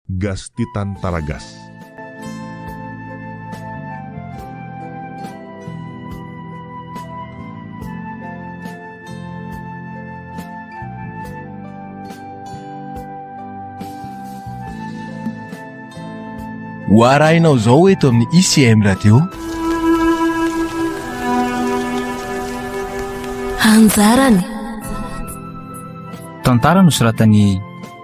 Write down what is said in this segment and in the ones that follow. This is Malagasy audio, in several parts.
Gasy te tany Taragasy. Ho arahinao izao eto amin'ny ICM Radio. Anjarany. Tantara nosoratan'i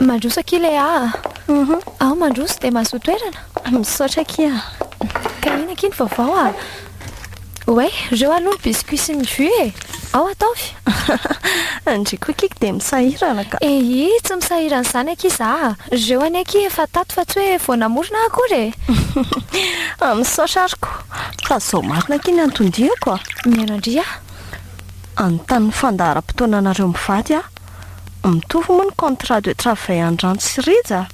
Mandroso akia Léa a. Mhm. Aho mandroso dia mahazoa toerana. Misaotra akia. Ka inona akia ny vaovao a? Oay, reo aloha ny biscuits sy ny jus e. Ao ataovy. Ndry koa akia dia misahirana ka. Ehi, tsy misahirana izany akia za. Reo anie akia efa tato fa tsy hoe vao namorona aho akory e. Misaotra ary koa. fa zao marina akia ny anton-diako a! Mianandria a! Anontan'ny fandaharam-potoananareo mivady aho. Mitovy moa ny contrat de travail an-dRanto sy Rija a!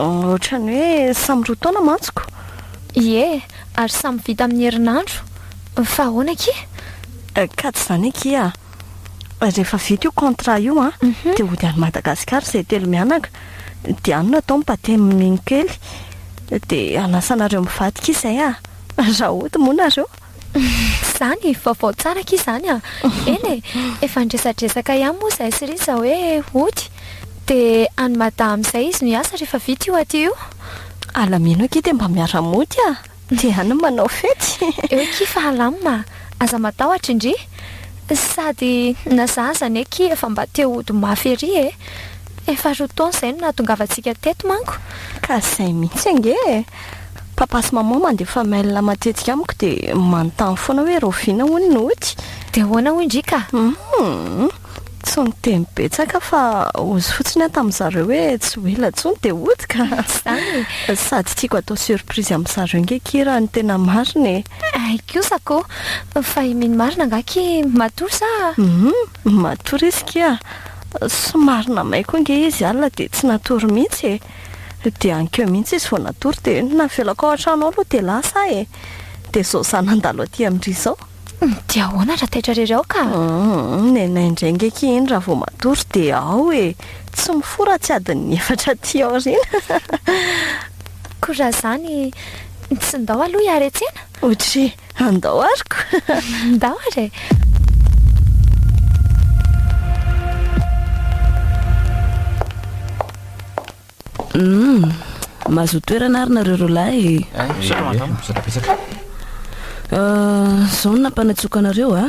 Ohatran'ny hoe samy roa taona mantsiko. Ie, ary samy vita amin'ny herinandro. Fa ahoana akia? Ka tsy izany akia a! rehefa vita io contrat io a mhm. dia hody any Madagasikara izay telo mianaka dia any no atao ny batemin'iny kely dia anasanareo mivadika izay a raha hody moa nareo izany vaovao tsara aky izany a eny e efa ndresadresaka ihany moa izay sy riza hoe hody dia any madama izay izy no hiasa rehefa vita io aty io alamino aky dia mba miara-mody a Dia any no manao fety. Eo akia fa alam a! Aza matahotra indry! Sady na za aza anie akia efa mba te hody mafy ery e! Efa roa taona izay no nahatongavantsika teto manko. Ka izay mihitsy ange e! Papa sy maman mandefa mail matetika amiko dia manontany foana hoe rahoviana hono ny ody. Dia ahoana hoy indry ka? Hum! Tsy niteny betsaka fa ozy fotsiny aho tamin'ny zareo hoe tsy ho ela intsony dia hody ka. Izany e. Sady tiako atao surprise amin'ny zareo nge ki raha ny tena marina e. Hay kosa ko. Fa i Mino marina angaha ki matory sa? Humm, matory izy ki a. Somary namay koa nge izy alina dia tsy natory mihitsy e. Dia ankeo mihitsy izy vao natory dia navelako ao an-trano ao aloha dia lasa aho e. Dia izao izaho nandalo aty amin-dry izao. Dia ahoana raha taitra irery ao ka? Nenay indray nge akia iny raha vao matory dia ao e! Tsy mifoha raha tsy adin'ny efatra aty aoriana. Koa raha izany, tsy ndao aloha hiaretsena? Ohatry andao ary koa! Ndao ary e! Humm! Mahazoa toerana ary nareo roalahy e! Euh, zao no nampanatsoako anareo a!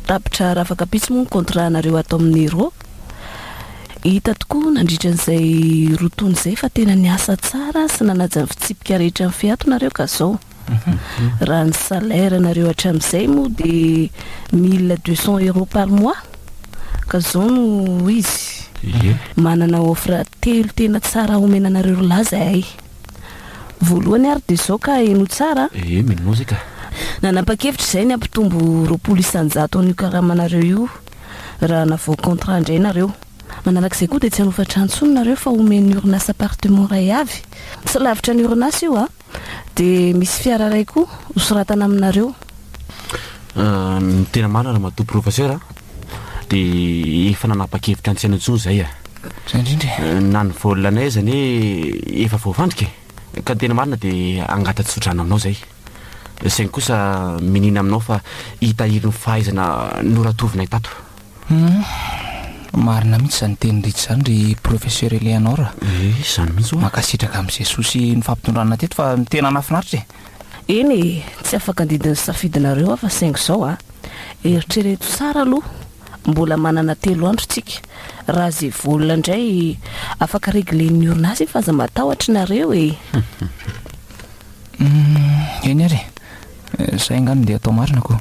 Tapitra rafaka pitsy moa ny contrat nareo ato amin'ny Nero. Hita tokoa nandritra an'izay roa taona izay fa tena niasa tsara sy nanaja ny fitsipika rehetra ny Feato nareo ka zao. Raha ny salaire nareo hatramizay moa de 1200 euros par mois ka zao no izy manana offre telo tena tsara omena anareo ry lahy zahay voalohany ary de zao ka heno tsara eh mino zay ka nanapa-kevitra izay ny hampitombo roapolo isan-jato an'io karamanareo io raha navao contrat indray nareo manarak'izay koa de tsy hanofa trano intsony nareo fa omen'ny orinasa appartement iray avy tsy lavitra ny orinasa io a Dia misy fiara iray koa hosoratana aminareo. Tena marina Ramatoa Professeur a! Dia efa nanapa-kevitra tsy hanao intsony izahay a! Izay indrindra e! Na ny volanay aza anie efa voafandrika e! Ka ny tena marina dia hangata-tsodrano aminao izahay. Saingy kosa miniana aminao fa hitahiry ny fahaizana noratovinay tato. Humm. Marina mihitsy izany teniny rehetra izany ry Professeur Eleanor a. Ee, izany mihitsy hoa. Mankasitraka amin'i Jesoa sy ny fampitondranana teto fa tena nahafinaritra e. Eny e, tsy afaka handidy ny safidinareo aho fa saingy izao a, eritrereto tsara aloha, mbola manana telo andro tsika, raha ze vola indray afaka reglen'ny orinasa efa aza matahotra nareo e. Humm, eny ary e, zay angaha no ndeha atao marina ko.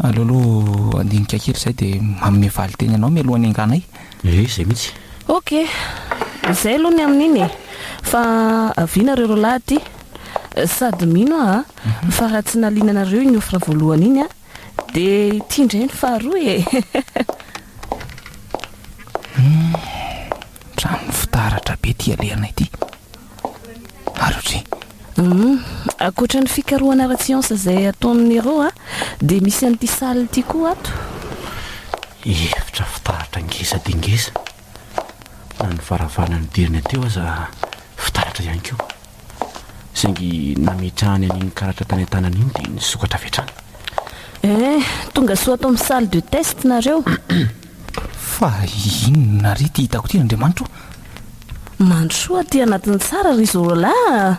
Aleoloha handinika kely zay dia manome valinteny anao mialoha ny hanganay. Ee zay mihitsy. Ok, zay aloha ny amin'iny e! Fa avia nareo roalahy aty, sady mino aho fa raha tsy naliana anareo iny offre voalohany iny dia ity indray ny faharoa e! Humm, trano fitaratra be ity alehana ity. Arory. Hum, ankoatra ny fikarohana ara-tsiansa izay ataon'i Nero a, dia misy an'ity salle ity koa ato. Efitra fitaratra ngeza dia ngeza, na ny varavarana nidirana teo aza fitaratra ihany koa, saingy nametrahany an'iny karatra tany an-tanany iny dia nisokatra avy hatrany. Eh, tonga soa ato amin'ny salle de test nareo. Fa inona re ity hitako ity ry Andriamanitra o? Mandrosoa aty anatiny tsara ry Zorola a!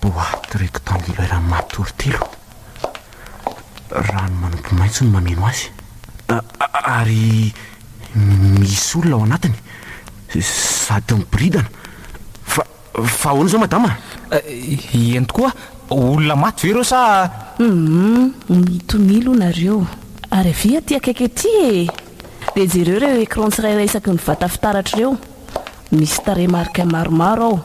Boite rectangulaire matory telo. Rano manopy maitso no mameno azy. Ary misy olona ao anatiny sady miboridana. Fa Fa ahoana izao madama? Eny tokoa, olona maty ve ireo sa? Humm, mitonia aloha nareo, ary avia aty akaiky aty e! Dia jereo ireo écran tsirairay isaky ny vata fitaratra ireo, misy tarehimarika maromaro ao.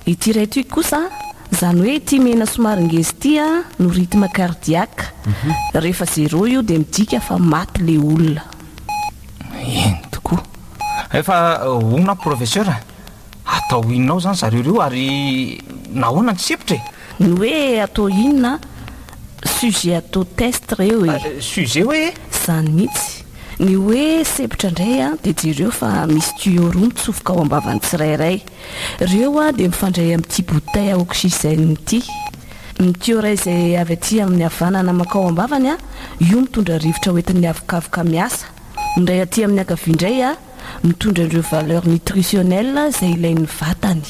Ity iray ity kosa, izany hoe ity mena somary ngeza ity no rythme cardiaque. Rehefa zéro io dia midika fa maty ilay olona. Eny tokoa. Efa hono aho professeur. Atao inona ao izany zareo ireo ary nahoana ny sepotra e? Ny hoe atao inona? Sujet atao test reo e! Sujet hoe? Zany mihitsy! Ny hoe sepotra indray a dia jereo fa misy tuyau roa mitsofoka ao ambavan'ny tsirairay. Reo a dia mifandray amin'ity bouteille à oxygène ity. Ny tuyau iray izay avy aty amin'ny havanana mankao ambavany a, io mitondra rivotra hoentin'ny havokavoka miasa. Ny iray aty amin'ny ankavia indray a. mitondra an'ireo valeurs nutritionnelles izay ilain'ny vatany.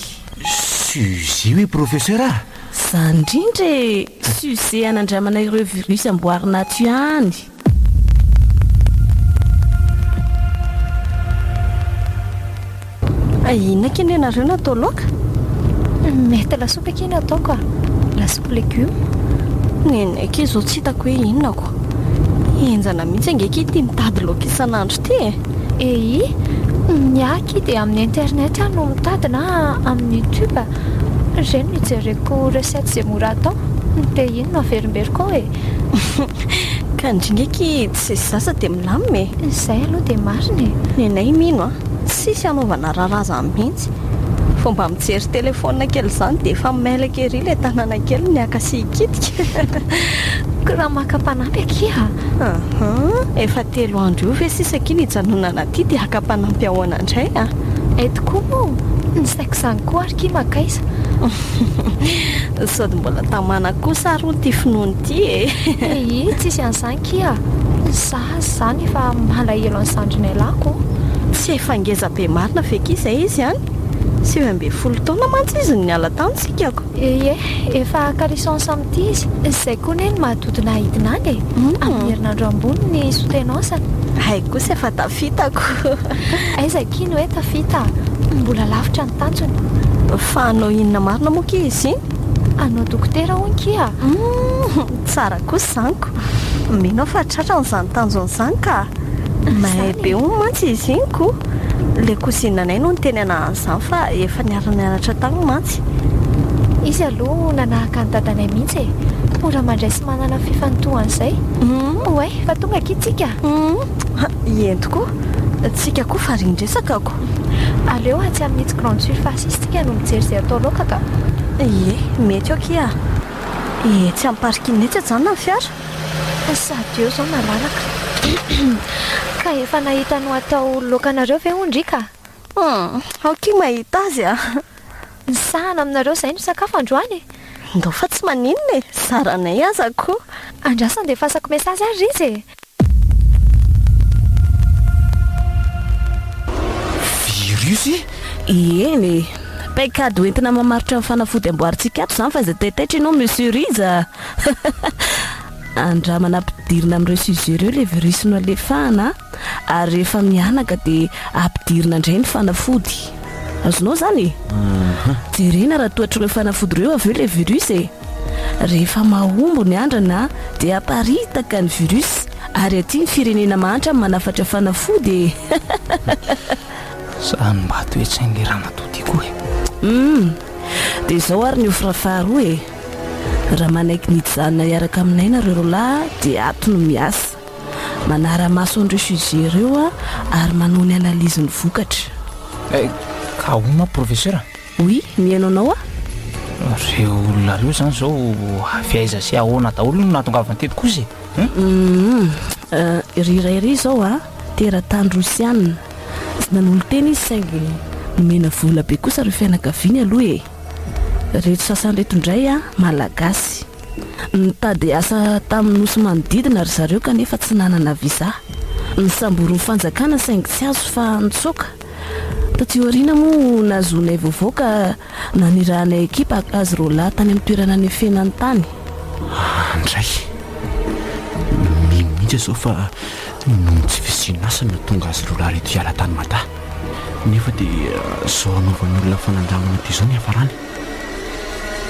Suzy hoe professeur ah! Zany indrindra e! Suzy hanandramana ireo virus amboarina ato ihany. Fa inona kay no ianareo no atao laoka? Mety lasopy akia no ataoko ah! Lasopy legume? Nenay akia izao tsy hitako hoe inona ko! Henjana mihitsy ange akia ity mitady laoka isan'andro ity e! Ehi, ny ahy dia amin'ny internet aho no mitady na amin'ny youtube, ireny no ijereko recette izay mora atao, ny pays no averimberiko ao e. Ka ndry ngiaky tsy zaza dia milamina e. Izay aloha dia marina e. Nenay mino a, tsisy hanaovana raharazany mihitsy, vao mba mijery telephone kely izany dia efa mailaika ery ilay tanana kely ny haka sy hikitika. Koa raha maka mpanampy akia. Aha, efa telo andro io ve sisa akia ny hijanonana aty dia haka mpanampy ahoana indray a! Eto koa moa ny saiko izany koa ary ki makaiza. Sody mbola tamana kosa ary hono ty finoana ity e! Ehi, tsisy an'izany ki a! Za aza izany efa malahelo an'i Zandrinailahy ko! Tsy efa ngeza be marina ve ki izay izy an! Sivy ambin'ny folo taona mantsy izy no niala tany sikako. Ye, efa caleçon samy tia izy, izay koa anie no maha dodona hahidina any e! Amin'ny herinandro ambony ny soutenance-ny. Hay kosa efa tafitako. Aiza akia ny hoe tafita? Mbola lavitra ny tanjona. Fa hanao inona marina moa akia izy iny? Hanao dokotera hono kia. Humm, tsara kosa izany ko! Mino aho fa tratrany izany tanjona izany ka! Mahay be hono mantsy izy iny ko! Ilay kozinanay no niteny anahy an'izany fa efa niara-nianatra tany mantsy. mihitsy. Izy aloha nanahaka an'i dadanay mihitsy e! Mora mandray sy manana fifantohana izay. Oay fa tonga akia tsika! Eny tokoa! Tsika koa fa ren-dresaka ako. Aleo atsy amin'itsy grande surface itsy tsika no mijery izay atao laoka ka! Ie, mety eo akia! Etsy amin'ny parking etsy ajanona ny fiara. Sady eo izao malalaka. Ka efa nahita nohatao laokanareo ve hono ry ka? Aokia mahita azy a! Misahana aminareo izay no sakafo androany e! Ndao fa tsy maninona e! Zaranay aza koa! Andraso andefasako message ary riz e! Virus e! Eny e! Paikady hoentina mamaritra ny fanafody amboarintsika ato izany fa izay taitaitra ianao Monsieur Riz a! Andramana ampidirina amin'ireo sujet ireo ilay virus nohalefahana a! ary rehefa mihanaka dia ampidirina indray ny fanafody. Azonao izany e? Jerena raha toa hatr'ireo fanafody ireo avy eo ilay virus e. Rehefa mahombo ny andrana dia aparitaka ny virus ary aty ny firenena mahantra manafatra fanafody e. Sa ny mba toe-tsain'ilay ramatoa ity koa e? Hum, dia izao ary ny offre faharoa e. Raha manaiky ny hijanona hiaraka aminay nareo roalahy dia ato no miasa. manara-maso an'ireo sujet ireo ary manao ny analyse ny vokatra. Eh, ahona professeur? Oui, mihaino anao aho. Reo olona reo zany zao avy aiza sy ahoana daholo no nahatongavany teto kosa e? Hum, euh, ry iray ry zao a, teratany rosiana, tsy nanolo-tena izy saingy nomena vola be kosa reo fianakaviany aloha e. Reto sasany reto indray a, malagasy. Nitady asa tamin'ny nosy manodidina ry zareo kanefa tsy nanana visa. Nisambory ny fanjakana saingy tsy azo fa nitsoaka. Taty aoriana moa nahazoanay vaovao ka nanirahanay ekipa hakazy roalahy tany amin'ny toerana nefenany tany. Ahy indray. Mino mihitsy aho izao fa noho ny tsy fisian'asa no nahatonga azy roalahy ireto hiala tany Mada. Nefa dia izao hanaovan'ny olona fanandramana toy izao ny hiafarany.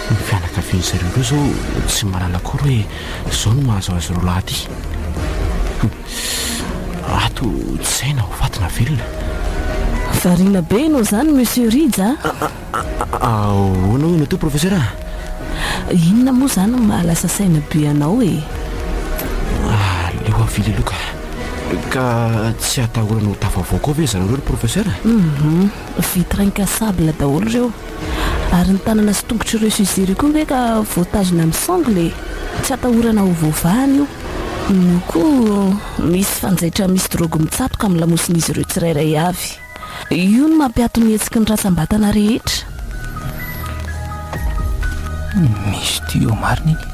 Ny fianakavian'izy ireo ireo izao tsy mahalala akory hoe izao no mahazo azy roa lahy ity. Ato tsy izay na ho faty na velona. Variana be ianao izany Monsieur Rija a! Ahoana hoy ianao teo Professeur a? Inona moa izany no mahalasa saina be anao e? Aleo avily aloha ka! Ka tsy atahorana ho tafavoaka ao ve ry zareo ireo ry Professeur? Vitre incassable daholo ireo. Ary ny tanana sy tongotry ireo sujet ireo koa ve ka voatazona amin'ny sangle e! Tsy atahorana ho voavahana io. Io koa misy fanjaitra misy drogue mitsatoka amin'ny lamosin'izy ireo tsirairay avy. Io no mampiato ny hetsiky ny rantsam-batana rehetra. Misy tuyau marina iny.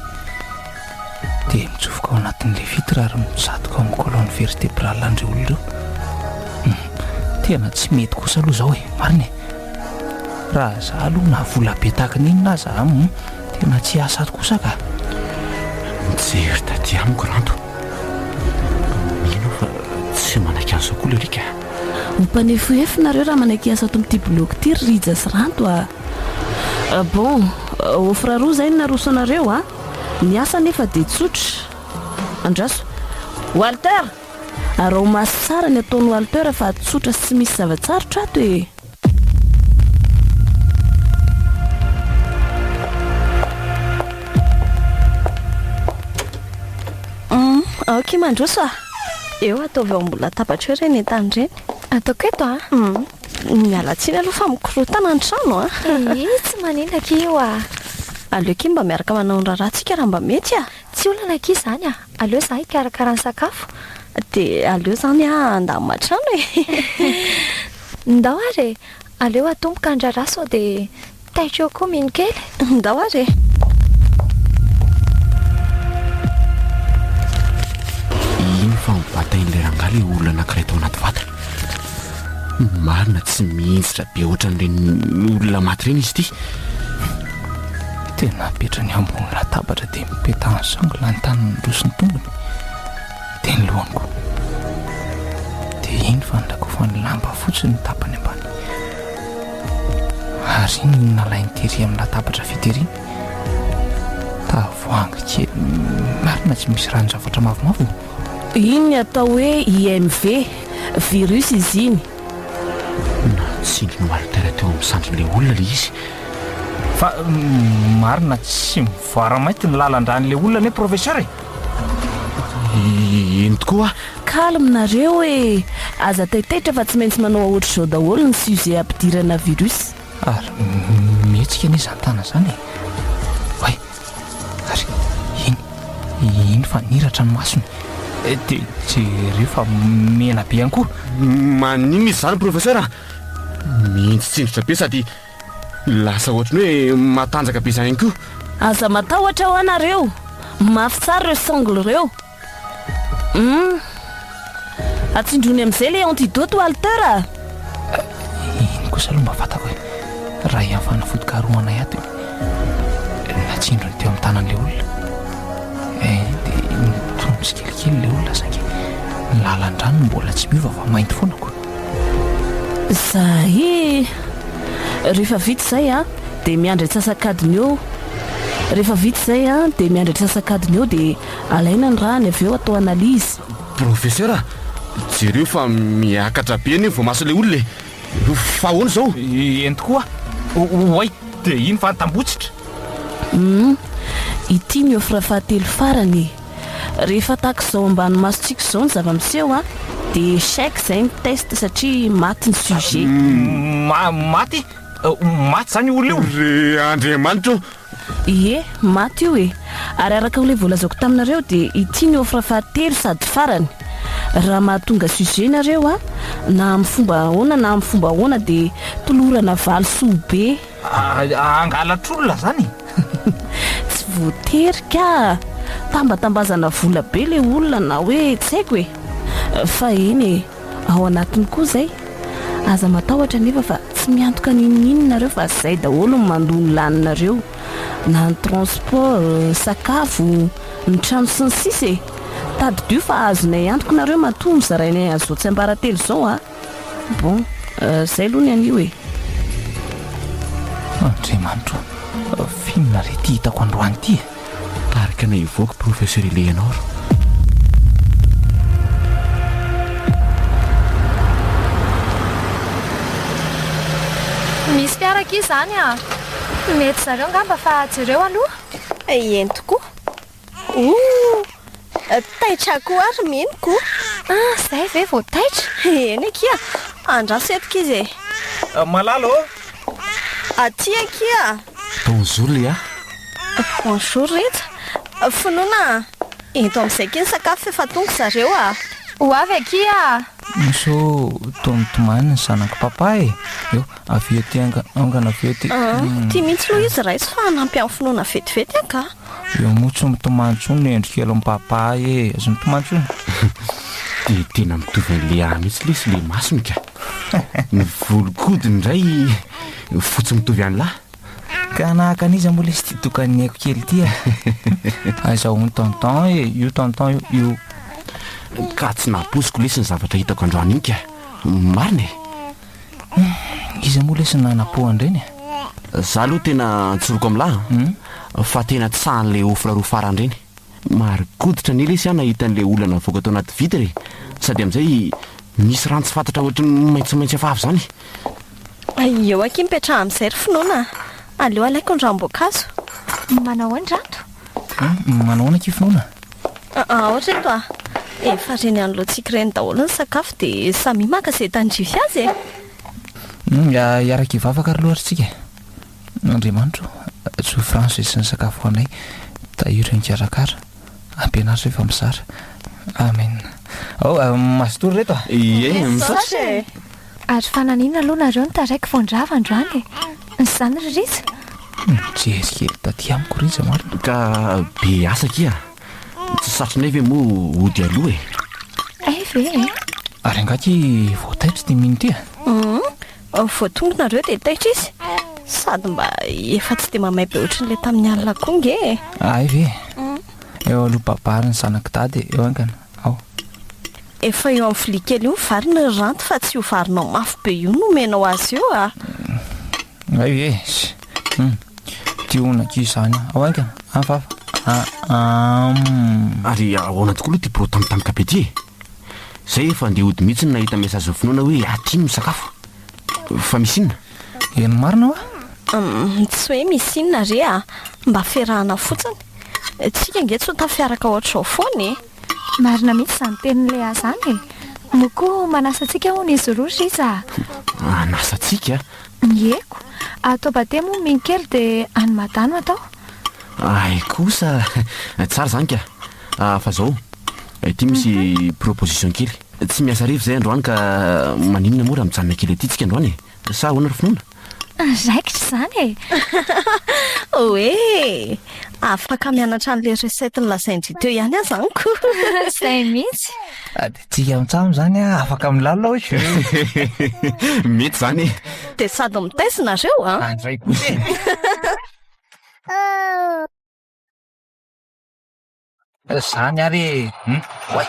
Dia mitsofoka ao anatin'ilay vitre ary mitsatoka ao amin'ny colonne vertebrale an'ireo olona ireo. Hum, tena tsy mety kosa aloha izao e, marina e. Raha za aloha na vola be tahaka ny inona aza, hum, tena tsy hiasa ato kosa ka. Nijery taty amiko Rando. Mino aho fa tsy manaiky an'izao koa ilay Rika. Ho mpanefohefo nareo raha manaiky hiasa ato amin'ity bilaogy ity ry Rija sy Rando a. Bon, offre roa izay no naroso anareo a. Ny asa anefa dia tsotra. Andraso. Walter! Araho maso tsara ny ataon'i Walter fa tsotra sy misy zava-tsarotra ato e! Aoka mandroso a! Eo, ataovy eo ambony latabatra eo ireny entana ireny. Ataoko eto a! Miala tsiny aloha fa mikorotana an-trano a! Ee, tsy maninona akia io a! Aleo akia mba miaraka manao ny raharahantsika raha mba mety a! Tsy olana akia izany a! Aleo izaho hikarakara ny sakafo. Dia aleo izany aho handamina an-trano e! Ndao ary e! Aleo atomboka ny raharaha sao dia. Taitra koa mino kely, ndao ary e! Iny fa mibatain'ilay rangahy ilay olona anankiray tao anaty vata. Ny marina tsy mihinjitra be ohatran'ireny olona maty ireny izy ity. Tena apetrany ambony latabatra dia mipetahan'ny sangola ny tanany roa sy ny tongony. Dia ny lohany koa. Dia iny fanondakofan'ny lamba fotsiny ny tapany ambany. Ary iny no nalainy tery amin'ny latabatra fiteriny. Tavoahangy kely marina tsy misy ranon-javatra mavomavo no. Iny ny atao hoe IMV, virus izy iny. Natsindry ny Walter teo amin'ny sandrin'ilay olona ilay izy. Fa marina tsy mivoara mainty ny lalan-dràn'ilay olona anie Professeur e! Eny tokoa. Calme nareo e! Aza taitaitra fa tsy maintsy manao aotr'izao daholo ny sujet ampidirana virus. Ary mihetsika anie zany tana zany e! Oay! Ary iny, iny fa niratra ny masony. Dia jereo fa mena be ihany koa. Maninona izy zany Professeur a? Mihintsitsindritra be sady. Lasa ohatran'ny hoe matanjaka be zany koa. Aza matahotra hoa nareo. Mafy tsara reo songles reo. Humm. Atsindrony amzay le antidote Walter a. Iny kosa aloha mba fantako hoe raha ian'ny fanafodikarohana iaby no natsindrony teo amin'ny tanan'ilay olona eh, dia nitony tsikelikely ilay olona saingy ny lalan-drano mbola tsy miova fa mainty foana koa. Za e! Rehefa vita izay an, dia miandry antsasakadiny eo. Rehefa vita izay an, dia miandry antsasakadiny eo dia alaina ny rany avy eo atao analyse. Professeur, jereo fa miakatra be anie ny voamasin'ilay olona e! Fa ahoana izao? Ento koa. Oay, dia iny fa tambotsitra. Humm, ity ny offre fahatelo farany e! Rehefa tahaka izao ambany masontsika izao ny zava-miseho an, dia échec izay ny test satria maty ny sujet. Ma, maty? Maty izany io olona io? Ry Andriamanitra o! Ie, maty io e! Ary araka ilay voalazako taminareo dia ity ny offre fahatelo sady farany. Raha mahatonga sujet ianareo an, na amin'ny fomba ahoana na amin'ny fomba ahoana dia tolorana valisoa be. Hangalatr'olona zany e! Tsy voatery ka! Tambatambazana vola be le olona na hoe tsy haiko e! Fa eny e! Ao anatiny koa zay! Aza matahotra anefa fa tsy miantoka n'inon'inona nareo fa zay daholo ny mandoa ny laninareo! Na ny transport, sakafo, ny trano sy ny sisa e! Tadidio fa azonay antoka nareo matoa mizarainay an'izao tsiambaratelo izao a! Bon, zay aloha ny anio e. Andriamanitro ô, f'inona re ity hitako androany ity e? Tarika anay hivoaka Professeur Eleanor. Misy fiara akia izany a! Mety zareo angamba fa jereo aloha. Eny tokoa. Ooh! Taitra koa ary Minoka o! Ah, zay ve vao taitra? Eny akia! Andraso eto k'izy e! Malala ô! Aty akia! Bonjour Léa! Bonjour Rija! Finoana eto amin'izay akia ny sakafo f'efa tonga zareo a! Ho avy akia a! Misô toa mitomany ny zanako Papa e! Eo, avia aty anga, angana avia aty! Tia mihitsy aloha izy raiso fa hanampy an'i Finoana vetivety angaha! Io moa tsy mitomany intsony ny endriko elo mipapa ahy e, tsy mitomany intsony. Dia tena mitovy an'ilay ahy mihitsy lesy ilay masony ka. Ny volon-kodiny indray fotsy mitovy an'lah. Ka nahaka an'iza moa lesy ity tokan'ny aiko kely ity a? Aiza hono tonton e, io tonton io, io. Ka tsy nampoiziko lesy ny zavatra hitako androany iny ka. Marina e. Iza moa lesy nanapo andreny e? Za aloha tena an-tsoroko am lahy hmm? fa tena tsahan'le ofra roa farany reny. Marin-koditra anie lesy aho nahita an'le olona navoaka tao anaty vitre e. Sady amzay misy rano tsy fantatra ohatran'ny maitsomaitso efa avy zany. Aiyo akia mipetraha amzay ry finoana a! Aleo alaiko ny ranom-boankazo. Manao ahoana rato? Manao ahoana akia finoana? Aa, ohatra eto a, efa ren'Anlontsika ireny daholo ny sakafo dia samia maka izay tandrify azy e! Hum, hiaraka hivavaka ary loatra tsika. Andriamanitro, tsoy franche sy ny sakafo ho anay, tahiry ny mikarakara, ampianaro izay fa mizara. Amen. Ao, mazitory ireto a! Ie, misaotra e! Ary fananina aloha nareo no taraiky vao nirava androany e! Zany ry Rija? Nijery kely taty amiko Rija marina. Ka be asa akia! Tsy satrinay ve moa hody aloha e! Hay ve e! Ary angaha akia vao taitra ity mino ity a? Humm! Vao tonga nareo dia taitra izy? Sady mba efa tsy dia mamay be ohatran'ilay tamin'ny alina koa nge e! Hay ve e! Eo aloha babary ny zanak'i dada e! Eo haingana! ao. Efa eo amin'ny vilia kely eo ny vary ny ranty fa tsy io varinao mafy be io no omenao azy io a! Hay e! Hum! Ity hono akia izany a! Ao haingana! Hafahafa! Aam! Ary ahoana tokoa aloha ity pro tambitamby be ity e! Izay efa handeha hody mihitsy no nahita message-n'i Finoana hoe aty iny misakafo! Fa misy inona? Eny marina hoa? Hum! Tsy hoe misy inona re a! Mba ferahana fotsiny! Tsika ange tsy ho tafiaraka ohatr'izao foana e! Marina mihitsy izany tenin'i Léa izany e! Moa koa manasa antsika hono izy roa ry Riza a! Hanasa antsika? Ieko! Atao bade moa mihintsy kely dia any Mada no atao! Hay kosa! Tsara izany ka! Fa izao, ity misy proposition kely. Tsy miasa hariva izay androany ka maninona moa raha mijanona kely aty tsika androany e! Sa ahoana ry finoana? Andraikitra izany e! Hoe afaka mianatra an'ilay recette nolazain-dry teo ihany aza amiko. Izay mihitsy. Dia tsy hiantsaha amin'izany aho, afaka milalina hoy. Mety izany e! Dia sady mitaiza ianareo an! Andray kosa e! Zany ary e! Hum! Oay!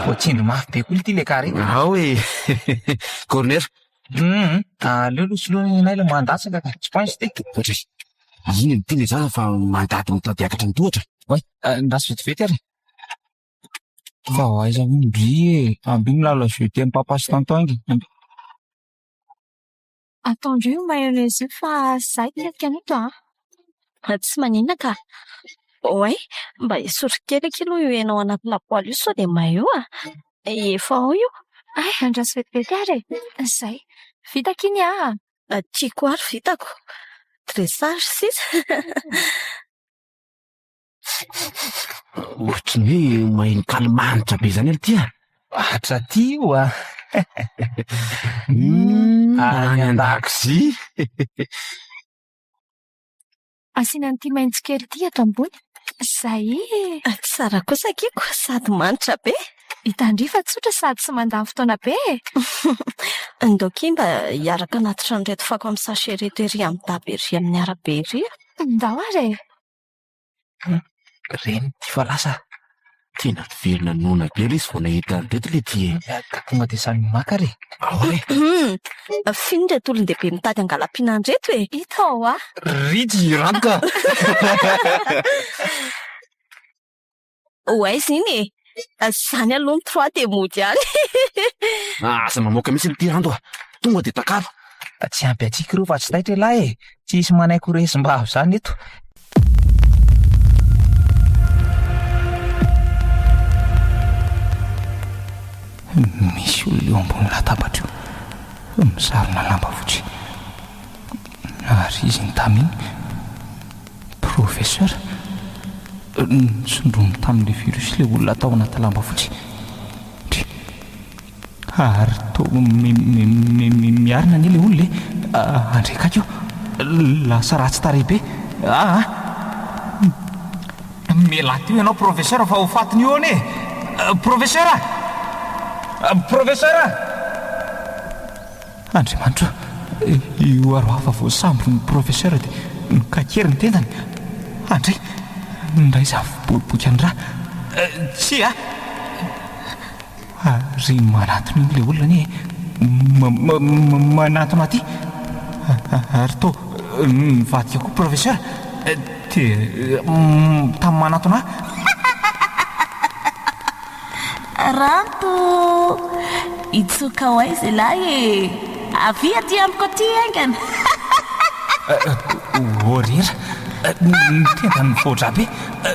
Voatsindry mafy be koa ity lekara ity! Ao e! Corner! Hum! Aleo aloha soloinay ilay mandatsaka ka! Tsy points ity! Ohatra hoe, inona ity ilay zaza fa mandady mitady akatra ny tohatra? Oay! Andraso vetivety ary e! Fa ho aiza hono ndry e! Ambio milalao jeu de mpampasy tonton inga! Ambio! Ataondreo io mayonnaise io fa izaho tsy hety an'ito an! Mba tsy maninona ka! Oay, mba esory kely akia aloha io hena ao anaty lapoaly io sao dia may eo an! Efa ao io. Hay andraso vetivety ary e! Izay. Vita akia ny ahy an! Tiako àry vitako. Dressage sisa. Ohatry ny hoe mahenkany manitra be izany aloha ty a! Atra ty oa! Hum, any an-dakozia! Asiana an'ity maitso kely ity eto ambony. Izay e! Tsara kosa akiko, sady manitra be. Hitandria fa tsotra sady tsy mandany fotoana be e! Ndao akia mba hiaraka anaty trano ireto fako amin'ny sachet ireto ery amin'ny daba ery amin'ny arabe ery a! Ndao ary e! Reny ity fa lasa tena velona noana be ilay izy vao nahita an'i Teto ilay ity e. Tonga dia samy maka ary e. Ahoana e? F'ino ireto olon-dehibe mitady hangalam-piana an'ireto e? Hita ao a! Rich Raka! ho aiza iny e? Izany aloha ny trois dia mody ihany. Aza mamoaka mihitsy ity rando a! Tonga dia takalo. Tsy ampy antsika ireo fa tsy taitra elah e! Tsy hisy manaiky ho resim-bavy izany eto. Misy olona eo ambony latabatra io, mizarina lamba fotsy. Naharizy ny tamin'ny Professeur, nosondroiny tamin'ilay virus ilay olona tao anaty lamba fotsy. Dry. Ary toa miarina anie ilay olona e! Handre akaiky io. Lasa ratsy tarehy be. Ah ah! Mialà teo ianao Professeur fa ho faty ny hoany e! Professeur a! Professeur a! Andriamanitra ô, io aro hafa voasambotry ny professeur dia mikaky ery ny tendany. Andry, minday izany boriboky any ra. Tsia a! Ary manatona iny ilay olona anie e! Manatona aty! Ary toa mivadika koa professeur dia tamin'ny manatona ahy. Ranto, hitsoka ho aiza ialahy e! Avia aty amiko aty haingana! Ô ry Hera, ny tendany mivoatra be,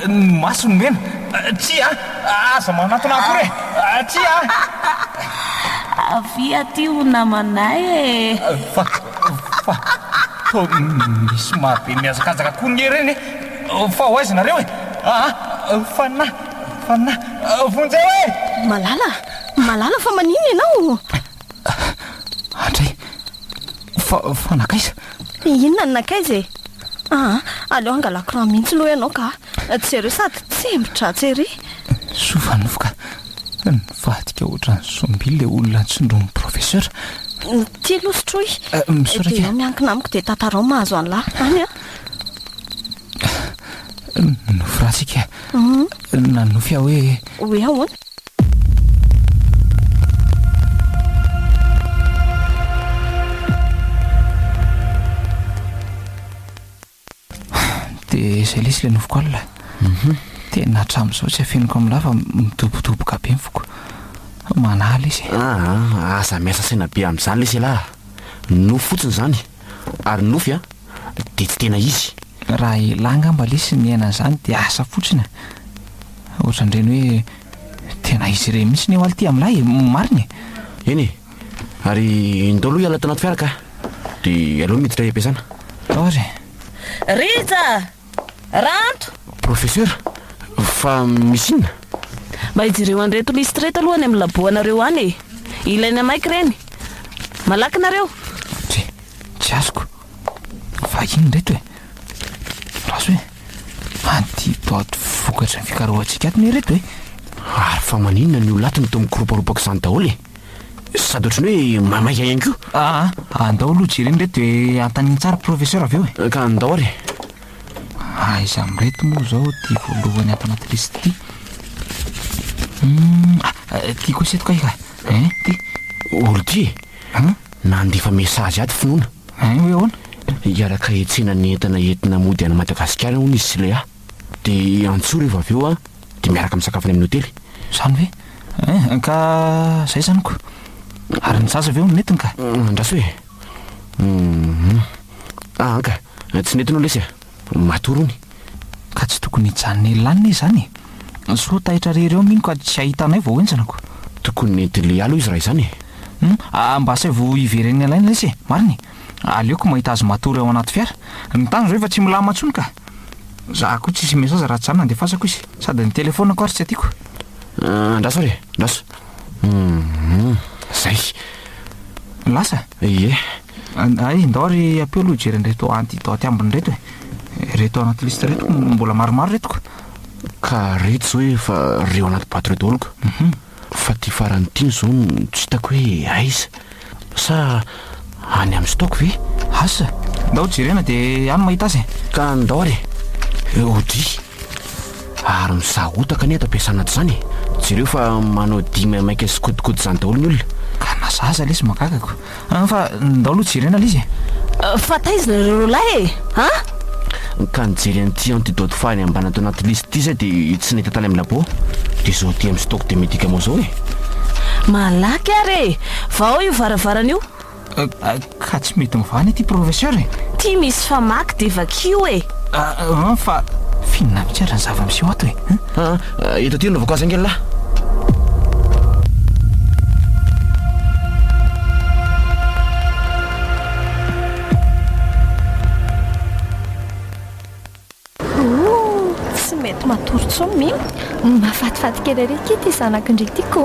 ny masony mena, tsia a! Aza manatona akory e! Tsia a! Avia aty ho namanay e! Fa, fa, toa misy maha be mihazakazaka koa ny Hera iny e! Fa ho aiza nareo e? Aa! Fa na. Fanina, vonjeo e! Malala, Malala fa maninona ianao? Andry, fa, fa nakaiza? Inona ny nakaiza e? Ah, aleo angala courant mihitsy loha ianao ka. Jereo sady tsembo-dratsy ery. Soa fa novoka. Nivadika ohatran'ny zombie ilay olona nitsindron'ny professeur. Ity aloha sotroy. Eh, misaotra Dia ianao miankina amiko dia tantarao mahazo an'lah any a. Nonofy raha tsika Nanonofy aho hoe Hoe ahoana? Dia izay lesy ilay nofiko alina mhm. Tena hatramin'izao tsy afeniko amin'ny lava midobodoboka be ny foko Manahy lesy e. Ah, ah, aza miasa saina be amin'izany lesy elah Nofy fotsiny izany Ary ny nofy a, dia tsy tena izy. Raha elah ngamba lesy niaina an'izany dia asa fotsiny a! Ohatran'ireny hoe tena izy ireny mihitsy ny eo aly ty amin'ilay e! Marina e! Eny e! Ary ndao aloha hiala tao anaty fiara ka! Dia aleo miditra hiam-piasana. Or e! Rija! Ranto! Professeur, fa misy inona? Mba hijereo an'ireto lisitra ireto aloha any amin'ny labo anareo any e! Ilaina maika ireny! Malaky nareo! Tsia, tsy azoko. Vahiny ireto e! Raso e! Anti bot vokatry ny fikarohantsika ato ne ireto e! Ary fa maninona ny olona ato no toa mikoromparompa aoka izany daholo e! Sady ohatran'ny hoe mamaika ihany koa. Aa, andao aloha jerena ireto dia antaniny tsara professeur avy eo e. Ka andao ary. Aiza amin'ireto moa izao ity voalohany ato anaty liste ity? Hum, ah, ity kosa eto kay ka. Eh, ity. Ordi, Hum, nandefa message ato finoana. eh, hoe ahoana? Hiaraka hitsena ny entana entina mody any Madagasikara hono izy sy Léa. Dia antsoy revo avy eo an. dia miaraka misakafo any amin'ny hotely. Izany ve? Eh, ka izay izany ko. Ary ny zaza ve hono netiny ka? Andraso e. Mhm. Ah, anka, tsy netiny hono lesy e. Matory hono. Ka tsy tokony hijanona ela any ne izany e. Soa taitra rery eo mino ka tsy hahita anay vao henjana ko. Tokony nentin'i Lehialy hoy izy raha izany e. Hum, ah, mba asaivo hiveren'ny alainy lesy e. Marina e. Aleoko mahita azy matory ao anaty fiara. Ny tany izao efa tsy milamina intsony ka! Za koa tsisy message raha tsy za nandefasako izy. Sady ny telefonako ary tsy tiako. Andraso ary e! Andraso! Hum! Zay! Lasa? Ie! Hay, ndao ary ampio aloha hijery an'ireto antidote ambiny ireto e! Ireto anaty liste ireto mbola maromaro ireto ka! Ka ireto izao efa reo anaty boite ireo daholo ka! Fa ity farany ity izao no tsy hitako hoe aiza? Sa any amin'ny stock ve? Asa, ndao jerena dia any mahita azy e! Ka ndao ary e! Odry! Ary misahotaka anie eto am-piasana ato izany e! Jereo fa manao dihy maimaika sy kodikodin' izany daholo ny olona! Ka na za aza lesy magagako! An fa ndao aloha jerena le izy e! Fa taiza nareo roalahy e! An! Ka nijery an'ity antidote fahiny ambany ato anaty liste ity zay dia tsy nahita tany amin'ny labo. Dia zao aty amin'ny stock de medicaments zao e! Malaky ary e! Vao io varavarana io! Ka tsy mety mivahana ity professeur e! Ty misy famaky dia vakio e! An fa finona mihitsy ary ny zava-miseho ato e! Eto aty aloha vao kasa nge lah. matory tsony mi mafatifaty kely ary ity ty zanakindry ity ko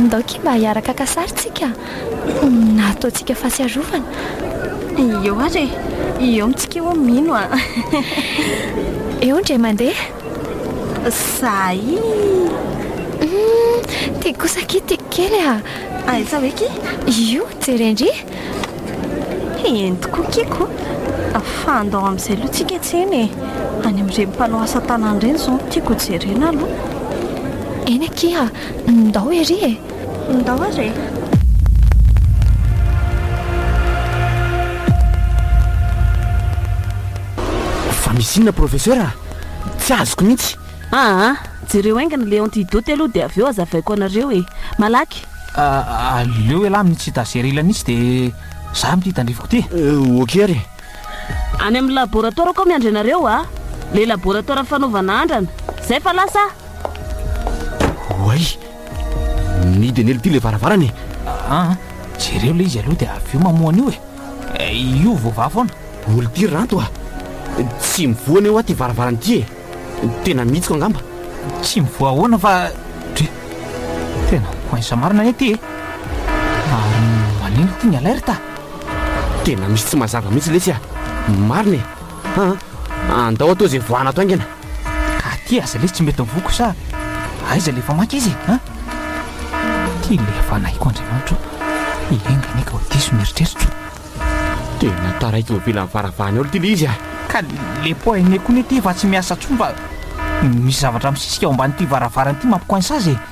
ndao ki mba hiaraka kasarintsika Na ataontsika fahatsiarovana. Eo ary e! Eo mitsika eo mino a! Eo indray mandeha. Sahy! Ty kosa akia tiako kely a! Aiza hoe ki? Io, jere ndry! Entiko kiako! Fa andao amin'izay aloha tsika tsena e! Any amin'ireny mpanao asa tanana ireny izao no tiako hojerena aloha. Eny akia! Ndao ery e! Ndao ary e! Fa misy inona professeur a? Tsy azoko mihitsy. Aa, jereo haingana ilay antidote aloha dia avy eo hazavaiko anareo e! Malaky! Aleo ialahy amin'ny tsy tazerilany mihitsy dia zary amin'ity tandrifiko ity e! Ok ary e! Any amin'ny laboratoarako aho miandry anareo a! Ilay laboratoara fanaovana andrana. Izay fa lasa aho! Oay! Midenelo ty le varavarana e. Aa jereo le izy aloha de avy eo mamoha an'io e. Io voavaha foana. Olo ty ranto a. Tsy mivoha anie hoa ty varavarana ty e. Tena mihitsiko angamba. Tsy mivoha ahoana fa dry. Tena coince marina anie ty e. Ary manino ty ny alerte a. Tena misy tsy mazava mihitsy lesy a. Marina e. Ha, andao atao izay voahana ato haingana. Ka aty aza lesy tsy mety ny voako sa aiza ilay efa maika izy ha? Ty ilay efa nahiko Andriamanitro, hiainga anie ka ho diso ny eritreritro. Tena taraiky eo ivelan'ny varavarana eo ity ilay izy a! Ka le po aine koa anie ty efa tsy miasa intsony fa misy zavatra misisika ao ambanin'ity varavarana ity mampicoince azy e!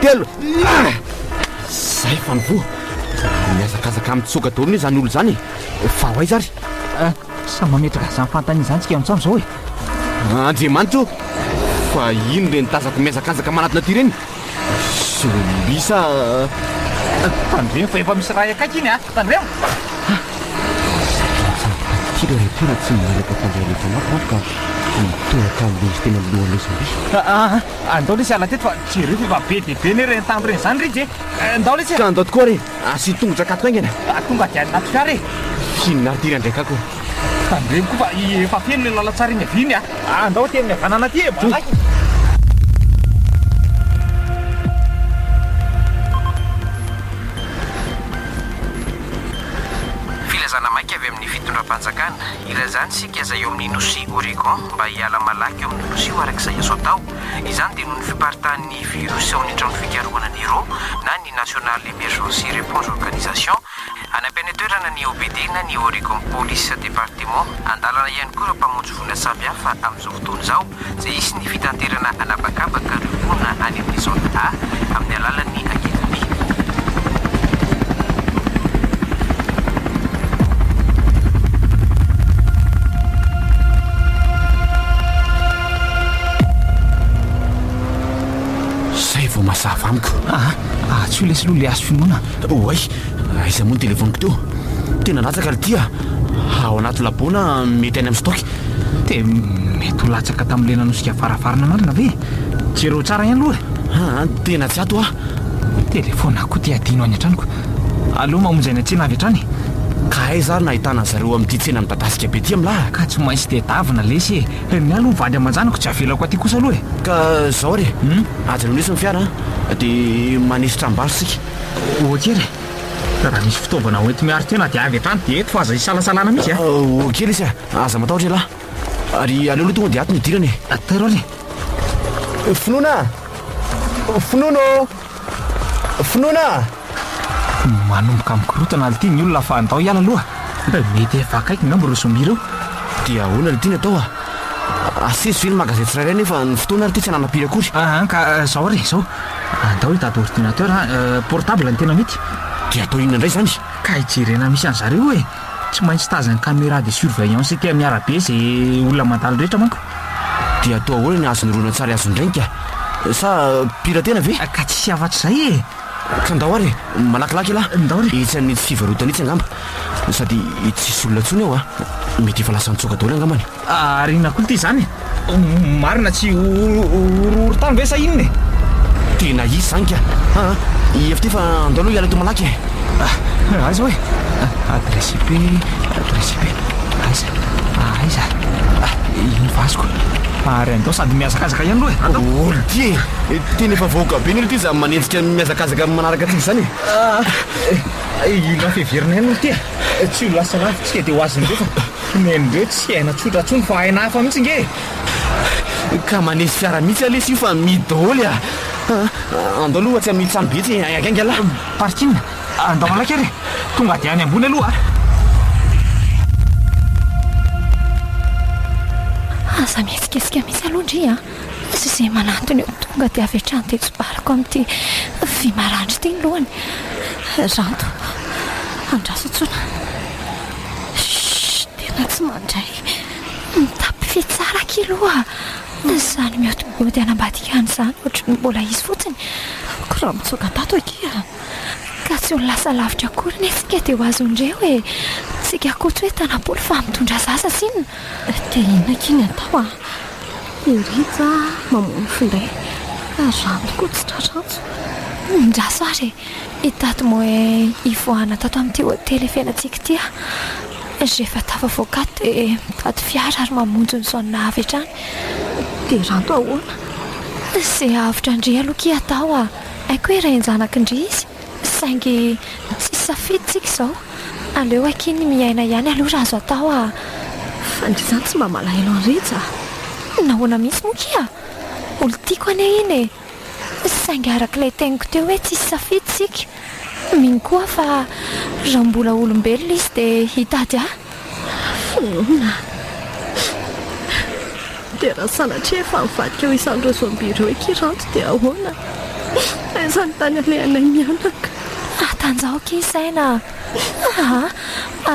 telo zay fa ny voa miazakazaka mitsoka daholo ny izany olo izany fa ho aiza ary eh, sa mametraka izany fantany izany tsika antsam izao e eh? andriamanitra o fa ino reny tazako miazakazaka manatona ty reny solisa tandremo eh, fa efa misy raha akaiky iny a tandremo ty le rehetra tsy milalaka tandreo letanao ka mitohaka am'le izy tena lohan'izany Andao lesy hiala teto fa jereo fa efa be dia be ne ireny tambo ireny izany Rija e! Andao lesy e! Ka andao tokoa re! Asio tongotra akato haingana! Ka tonga dia any anaty fiara e! Inona ary ity Randriaka ko? Tandremo koa fa efa feno ilay lalantsara eny havia iny a! Andao aty amin'ny havanana aty e! Malaky e! Filazana maika avy amin'ny fitondram-panjakana. Ilazany isika izay eo amin'ny nosy Oregon mba hiala malaky eo amin'io nosy io araka izay azo atao. Izany dia noho ny fiparitahan'ny virus ao amin'ny trano fikarohana ny ro na ny National Emergency Reponse Organization. Any am-pene toerana ny OPD na ny Oregon Police Department. Andalana ihany koa ireo mpamonjy voina samby hafa amin'izao fotoana izao. izay hisy ny fitanterana an'habakabaka ireo mponina any amin'ny Zone A amin'ny alalan'ny ankizamby. Izay vao mazava amiko. Aa, atsy ho lesy aloha ilay hazo finoana. Oay, aiza moa ny telefoniko teo? Tena latsaka ry tia. Ao anaty labo na mety any amin'ny stock? Dia mety ho latsaka tamin'ny lena nosika varavarana marina ve? Jereo tsara ihany aloha e! Ah, tena tsy ato aho. Telefaonina koa te hadino any an-tranoko. Aleo mamonjy any an-tsena avy hatrany e! Ka aiza ary no ahitana azy ireo amin'ity tsena midadasika be ity amin'lah? Ka tsy maintsy tedavina lesy e! Ny ahy aloha vady aman-janako tsy avelako aty kosa aloha e! Ka izao re, ajanony eto ny fiara an! Dia manesotra am-bary isika. Ok re! Ka raha misy fitaovana ho enti-miaro tena dia avy hatrany dia eto fa aza isalasalana mihitsy a! Ok lesy a! Aza matahotra ialahy! Ary aleo aloha tonga dia ato ny hidirana e! Atairo ary e! Finoana a! Finoana ô! Finoana a! Manomboka mikorontana alitia ny olona fa andao hiala aloha! Mety efa akaiky angamba ireo zombie ireo! Dia ahoana ilay tiana atao a! Asesy ve ny magasin tsirairay nefa ny fotoana ary ity tsy hananam-piry akory? An ka izao ary e! Izao! Andao hitady ordinateur portable ny tena mety. Dia atao inona indray izany? Ka hijerena misy an'zareo e! Tsy maintsy tazany camera de surveillance ety amin'ny arabe izay olona mandalo rehetra manko. Dia atao ahoana ny azon'ny horonantsary azon'ny reniko a! Sa piratena ve? Ka tsisy afatr'izay e! Ka ndao ary e! Malakilaky elah! Ndao re! Etsy amin'itsy fivarotana itsy angamba. Sady tsisy olona intsony ao a! Mety efa lasa nitsoaka daholo angambany. Ary inona koa ity zany e? Marina tsy horohoro tany ve sa inona e? Tena izy zany ka! Aa i FT fa andao aloha hiala eto malaky e! Ah aiza hoe? Adresse IP, adresse IP, aiza? Aiza? Ah iny vazoko! Ary andao sady mihazakazaka ihany aloha e! Andao! Olo ty e! Tena efa vahoaka be ny olo ty zany manenjika ny mihazakazaka amin'ny manaraka antsika zany e! Ah! Ino raha fiheverana ihany olo ty e! Tsy ho lasa lavintsika dia ho azon'ireo fa. Nen'ireo tsy aina tsotra tsony fa aina hafa mihitsy nge e! Ka manisy fiara mihitsy ah lesy io fa mihidy daholo e! Andao aloha tsy amin'ny trano be etsy e! Aigainga lah! Parking! Andao malaky ary e! Tonga dia any ambony aloha a! Aza mihetsiketsika mihitsy aloha ndry a! Sy izay manantona eo tonga dia avy hatrany dia tsobariko amin'ity vy maranitra ity ny lohany! Ranto! Andraso intsony! Shh! Tena tsy mandray. Mitapy fy tsara akia aloha. Izany miody miody any ambadika any izany ohatry ny mbola izy fotsiny. Ko raha mitsoaka tato akia. Ka tsy ho lasa lavitra akory ne tsika dia ho azondreo e! Tsika ko tsy hoe tanapoly fa mitondra zaza sinona. Dia inona akia ny atao a! I Rija mamono finday. Ary rano ko tsy tra-trantso. Mindraso ary e! I Dato moa hivoahana tato amin'ity hotely ifehinantsika ity a! Rehefa tafavoaka ato dia mitady fiara ary mamonjy ny zone avy hatrany. Dia ranto ahoana? Izay avotra an-dry aloha akia atao a! Haiko hoe renin-janakindry izy, saingy tsisy safidy tsika izao. Aleo akia ny miaina ihany aloha raha azo atao a! Fa ndry izany tsy mba malahelo an'iretsy a! Nahoana mihitsy moa akia? Olon-tiako anie iny e! Saingy araka ilay teniko teo hoe tsisy safidy isika, mino koa aho fa raha mbola olombelona izy dia hitady ahy. Finoana. Dia raha sanatria efa nivadika ho isan'ireo zombie ireo i Kiranty dia ahoana? Aiza ny tany alehanay mianaka? Atanjaoka i Saina a!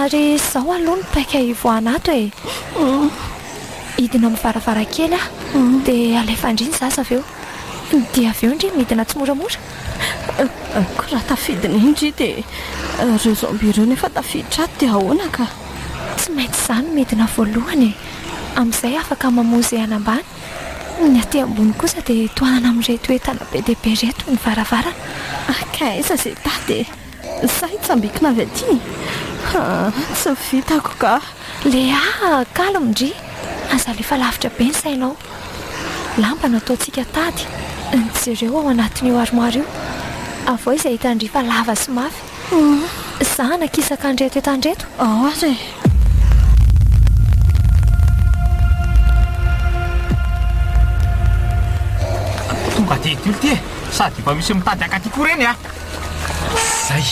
Ary izao aloha no paika hivoahan'ato e! Hidina amin'ny varavarankely aho, dia alefa an-dry ny zaza avy eo. Dia avy eo an-dry midina tsimoramora. Koa raha tafidiny iny ry dia ireo zombie ireo nefa tafiditra ato dia ahoana ka? Tsy maintsy izaho no midina voalohany e! Amin'izay afaka mamoha izay any ambany. Ny aty ambony kosa dia tohanana amin'ireto entana be dia be ireto ny varavarana. Ka aiza izay tady e? Sa hitsambikina avy aty? Tsy vitako ka! Léa, calme ndry! Aza alefa lavitra be ny sainao. Lamba no ataontsika tady. Jereo ao anatin'io armoire io. Avoahy izay hitan-dry fa lava sy mafy. Za hanakisaka an'ireto eto an'ireto. Ao aza e! Tonga dia hitory ity e! Sady efa misy mitady haka aty koa ireny a! Zay!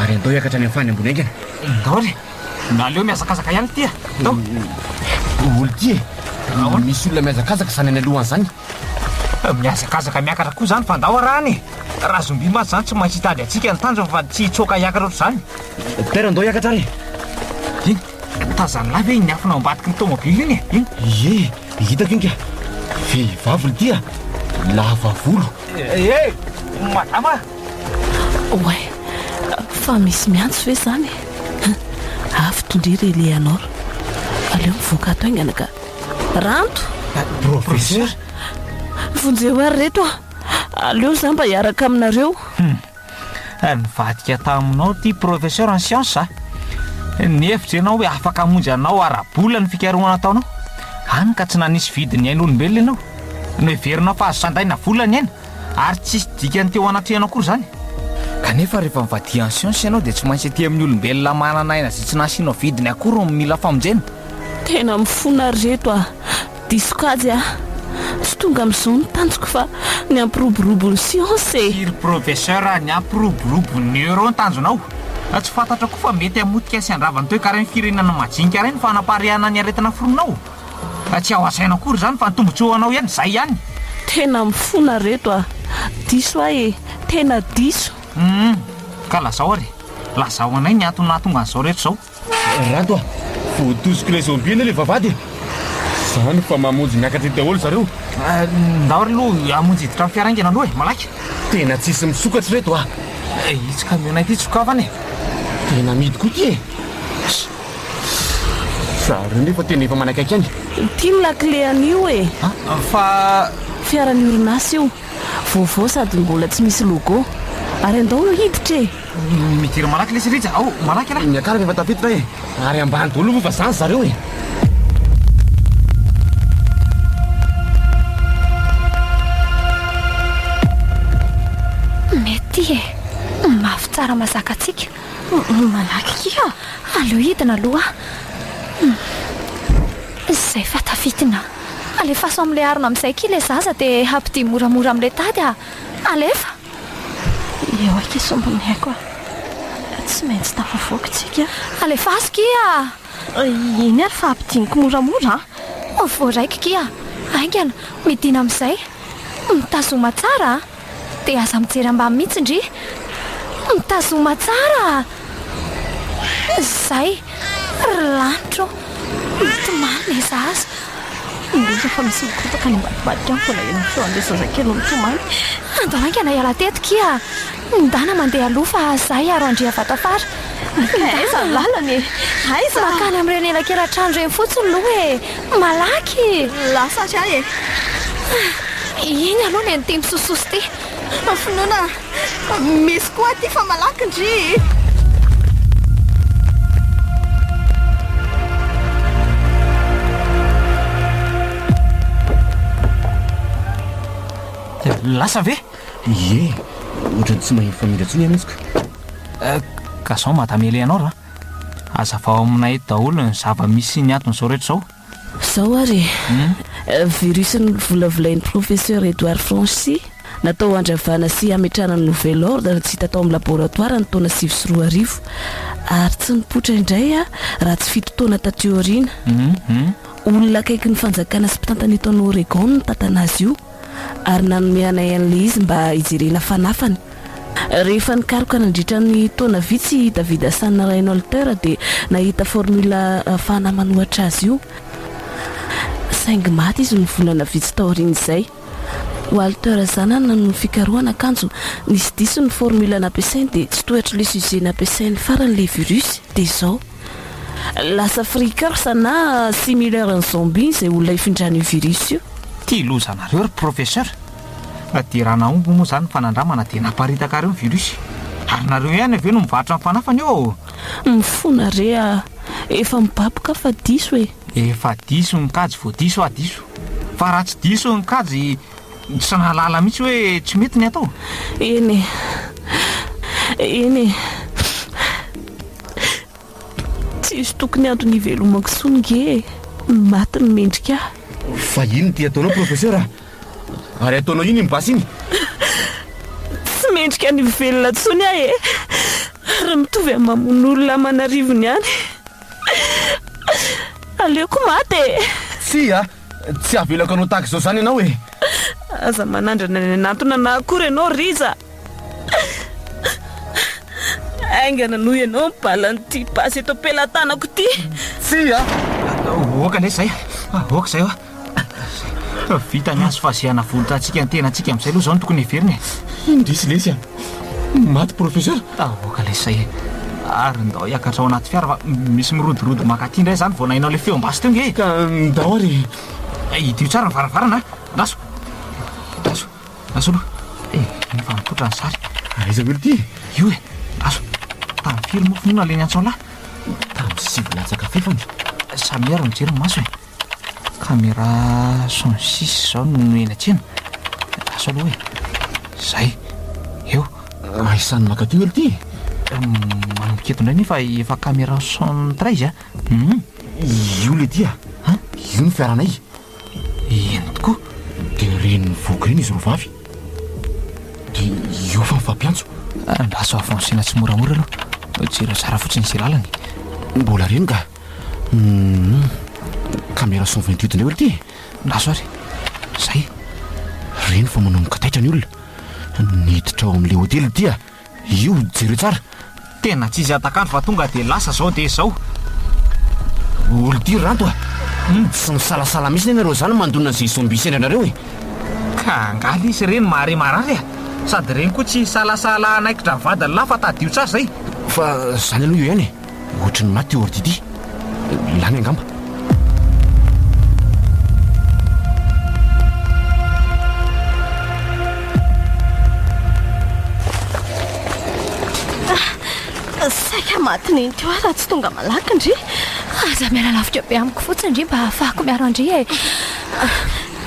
Ary andao hiakatra any amin'ny fany ambony haingana. Ndao re! Na aleo mihazakazaka ihany ity a! Ndao! Olo ty e! Ahoana? Misy olona mihazakazaka izany any alohany izany. Mihazakazaka miakatra koa izany fa ndao arahana e! Raha zombie mantsy izany tsy maintsy hitady antsika ny tanjony fa tsy hitsoaka hiakatra ohatr'izany. Père ndao hiakatra ary e! Iny, tazan'lah ve iny afona ao ambadiky ny tomobile iny e? Iny. Ie, hitako iny ka! Vehivavy olo ty a! Lava volo, Eh eh! Madama! Oay! Fa misy miantso ve izany e? Avy tondry ry Eleanor. Aleo mivoaka ato haingana ka. Ranto! Professeur! Vonjeo ary reto a! Aleo izaho mba hiaraka aminareo. Raha nivadika taminao ity professeur en science a, nihevitra ianao hoe afaka hamonjy anao ara-bola ny fikarohana ataonao, hany ka tsy nanisy vidin'ny ain'olombelona ianao. Noheverinao fa azo sandaina vola ny aina, ary tsy hisy dikany teo anatrehanao akory izany. Kanefa rehefa mivadiha en science ianao dia tsy maintsy aty amin'ny olombelona manana aina izay tsy nasianao vidiny akory no mila famonjena. Tena mifona ry reto a! Diso kajy ah! Tsy tonga amin'izao ny tanjoko fa ny hampiroborobo ny siansa e! Ry Professeur a, ny hampiroborobo ny Euro no tanjonao? Raha tsy fantatrao koa fa mety hamotika sy handrava ny toekaren'ny firenana majinika iray ny fanampariahana ny aretina foronao? Raha tsy ao an-tsaina akory izany fa ny tombotsoa ho anao ihany izay ihany! Tena mifona reto a! Diso ahy e! Tena diso! Humm! Ka lazao ary e! Lazao anay ny antony nahatonga an'izao rehetra izao! Rato a! Voatosiko ilay zombie anie ilay vavahady e! Izany fa mamonjy miakatra eo daholo zareo! Ndao ry Lou hamonjy hiditra amin'ny fiara haingana aloha e! Malaky! Tena tsisy misokatra ireto a! Itsy camiona ity sokafana e! Tena amidy koa ity e! Zareo nefa tena efa manakaiky any! Ity ny lakile an'io e! Fa. Fiaran'ny orinasa io! Vaovao sady mbola tsy misy logo! Ary andao hiditra e! Midera malaky lesy Rija ao, malaky ialahy. Ny akarako efa tafiditra e, ary ambany daholo moa fa zany zareo e. Mety e, mafy tsara mazaka antsika. Malaky kia, aleo hidina aloha. Izay hmm. fa tafidina. Alefaso amin'ilay harona amin'izay kia ilay zaza dia hampidi moramora amin'ilay tady ah. Alefa! Eo aky i sombin'ny aiko a! Tsy maintsy tafavoaka isika. Alefaso kia! Iny ary fa ampidiniko moramora a! Voaraiko kia! Haingana, midina amin'izay! Mitazoma tsara a! Dia aza mijery ambany mihitsy ndry! Mitazoma tsara a! Izay ry lanitra ô! Mitomany ny zaza. Indrisy fa misy mikorontaka any ambadibadika any foana eny ny feon'ilay zazakely mitomany. Andao haingana hiala teto kia! Mindana mandeha aloha fa izaho hiaro an-dRiavatafara. Ka aiza ny lalana e? Aiza? Mankany amin'ireny elakelan-trano ireny fotsiny aloha e! Malaky! Lasa àry aho e! Iny aloha ilay niteny sosososy ity. Finoana! Misy koa aty fa malaky ndry. Lasa ve? Ie, ohatrany tsy mahery famindra intsony ianao izy eh, ka. Ka zao mahatamele anao ra. Azavao aminay daholo ny zava-misy sy ny antony zao rehetra zao. Zao ary e! Virus novolavolain'i Professeur Edouard Franchi, natao handravana sy hametrahana ny nouvel ordre tsy hita tao amin'ny laboratoara ny taona sivy sy roa arivo ary tsy nipoitra indray raha tsy fito taona taty aoriana. Olona akaikin'ny fanjakana sy mpitantana eto an'Oregon no nitantana azy io. ary nanome anay an'ilay izy mba hijerena fanafany. Rehefa nikaroka nandritra ny taona vitsy i David Hassan Reinholter dia nahita formule ahafahana manohatra azy io, saingy maty izy ny volana vitsy taorian'izay. Walter zanany no fikarohana akanjo nisy diso ny formule nampiasainy dia tsy tohatry le sujet nampiasainy farany le virus dia izao. Lasa freakers na similer an'ny zombie izay olona ifindran'io virus io. Tia loza anareo ry professeur. Na dia raha nahomby moa izany ny fanandramana dia naparitaka àry ny virus. Ary nareo ihany avy eo no mivarotra ny fanafany eo ô! Mifona re a! Efa mibaby ka fa diso e! Efa diso ny kajy vao diso a! Diso! Fa raha tsy diso ny kajy, Tsy nahalala mihitsy hoe tsy mety ny atao? Eny e! Eny e! Tsisy tokony antony hivelomako intsony nge e! Maty ny mendrika ahy! Fa inona ity ataonao Professeur a! Ary ataonao inona iny basy iny? Tsy mendrika ny ho velona intsony aho e! Ary mitovy amin'ny mamono olona aman'arivony ihany! Aleoko maty e! Tsia! Tsy havelako anao tahaka izao izany ianao e! Aza manandrana ny hanatona anà akory ianao Rija! Haingana noho ianao ny balan'ity basy eto am-pelatanako ity! Tsia! Aoka anie izay! Aoka izay hoa! Efa vita ny hazo fahazehana volon-tsatsika ny tenantsika amin'izay aloha izao no tokony heverina e! Indrisy lesy a! Maty professeur? Aoka lesy zay e! Ary ndao hiakatra ao anaty fiara fa misy mirodorodo mankaty indray zany vao nahinao le feom-basy teo nge e! Ka ndao ary e! Hidio tsara ny varavarana a! Naso! Naso! Naso aloha! Eh! Tena efa mipoitra ny sary! Aiza weli ty? Io e! Naso! Tamin'ny firy moa finoana le niantsoalahy? Tamin'ny sivy latsaka fefany! Samy ary mijery ny maso e! Camera son six zao no eny an-tsena. Asao aloha e. Zay. Eo. Ahisan'ny maka teo elo ty. Maniketo indray nefa efa camera son treize a. Hum. Io le ty a. An? Io ny fiaranay. Eny tokoa. De reny mivoaka reny izy roa vavy. De io fa mifampiantso. Andraso avancena tsimoramora aloha. Jereo tsara fotsiny izay lalany. Mbola reny ka. Camera cent vingt huit indray ory ty e Raso ary Zay Reny fa manomboka taitra ny olona Niditra ao amin'ilay hotely dia Io jereo tsara Tena tsisy hatak'andro fa tonga dia lasa zao dia zao Olon-tiry ranto a Humm tsy misalasala mihitsy nenareo izany mandona izay zombie sendra anareo e Ka angaha lesy reny mahare marary a Sady reny koa tsy hisalasala hanaikitra ny vadiny lahy fa tadidio tsara izay Fa izany aloha eo ihany e. Ohatry ny maty io ordi ity. Lany angamba. maty ny nty raha tsy tonga malaky ndry aza miala lavika be amiko fotsiny ndry mba hahafahako miaro andry e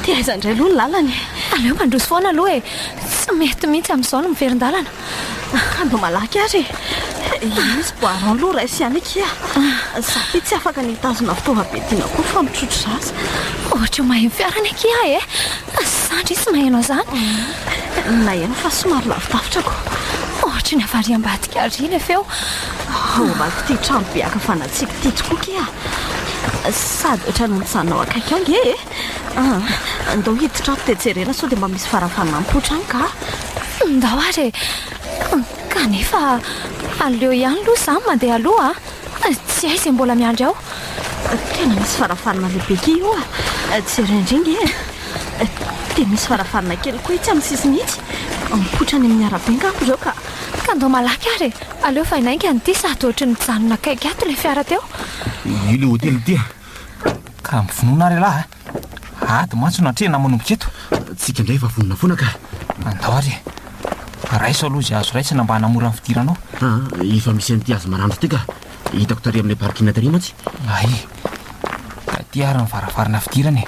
tiaizandray aloha ny lalana e aleo mandroso foana aloha e tsy mety mihitsy amin'izao no miverin-dalana Ando malaky ary e. Izy boaron aloha ray sy any akia. Za ve tsy afaka ny hitazona fitaovam-be tiana koa fa mitrotro zaza. Ohatra mahay ny fiarany akia e. Zandry izy maheno an'izany. Mm. Naheno fa somary lavidavitra ko. Ohatra ny avariam-badika ary ilay feo. Ao ambadiko ity trano be akavanatsika ity tokoa kia. Sady ohatran'ny mijanona ao akaiky ao nge e. Aa, ndao hiditra ato dia jerena sao dia mba misy varavanampotra any ka. Ndao ary e! Kanefa aleo ihany aloha izaho mandeha aloha a! Tsy hay izay mbola miandry ao. Tena misy varavarana lehibe kii io a! Jereo indray nge e! Dia misy varavarana kely koa itsy amin'ny sisiny itsy. Mipoitra any amin'ny arabe angamba ireo ka. Ka ndao malaky ary e! Aleo vainainga an'ity sady ohatry ny nijanona akaiky ato ilay fiara teo. Io ilay hotely ity a! Ka mivonona ary ialahy a! Ady mantsy no atrehina manomboka eto. Tsika indray efa vonona foana ka. Andao ary e! Raiso aloha izay azo raisina mba hanamora ny fidiranao. Aa, efa misy an'ity hazo maranitra ity ka. Hitako tary amin'ilay parking tary mantsy. Hay! Taty ary ny varavarana fidirana e!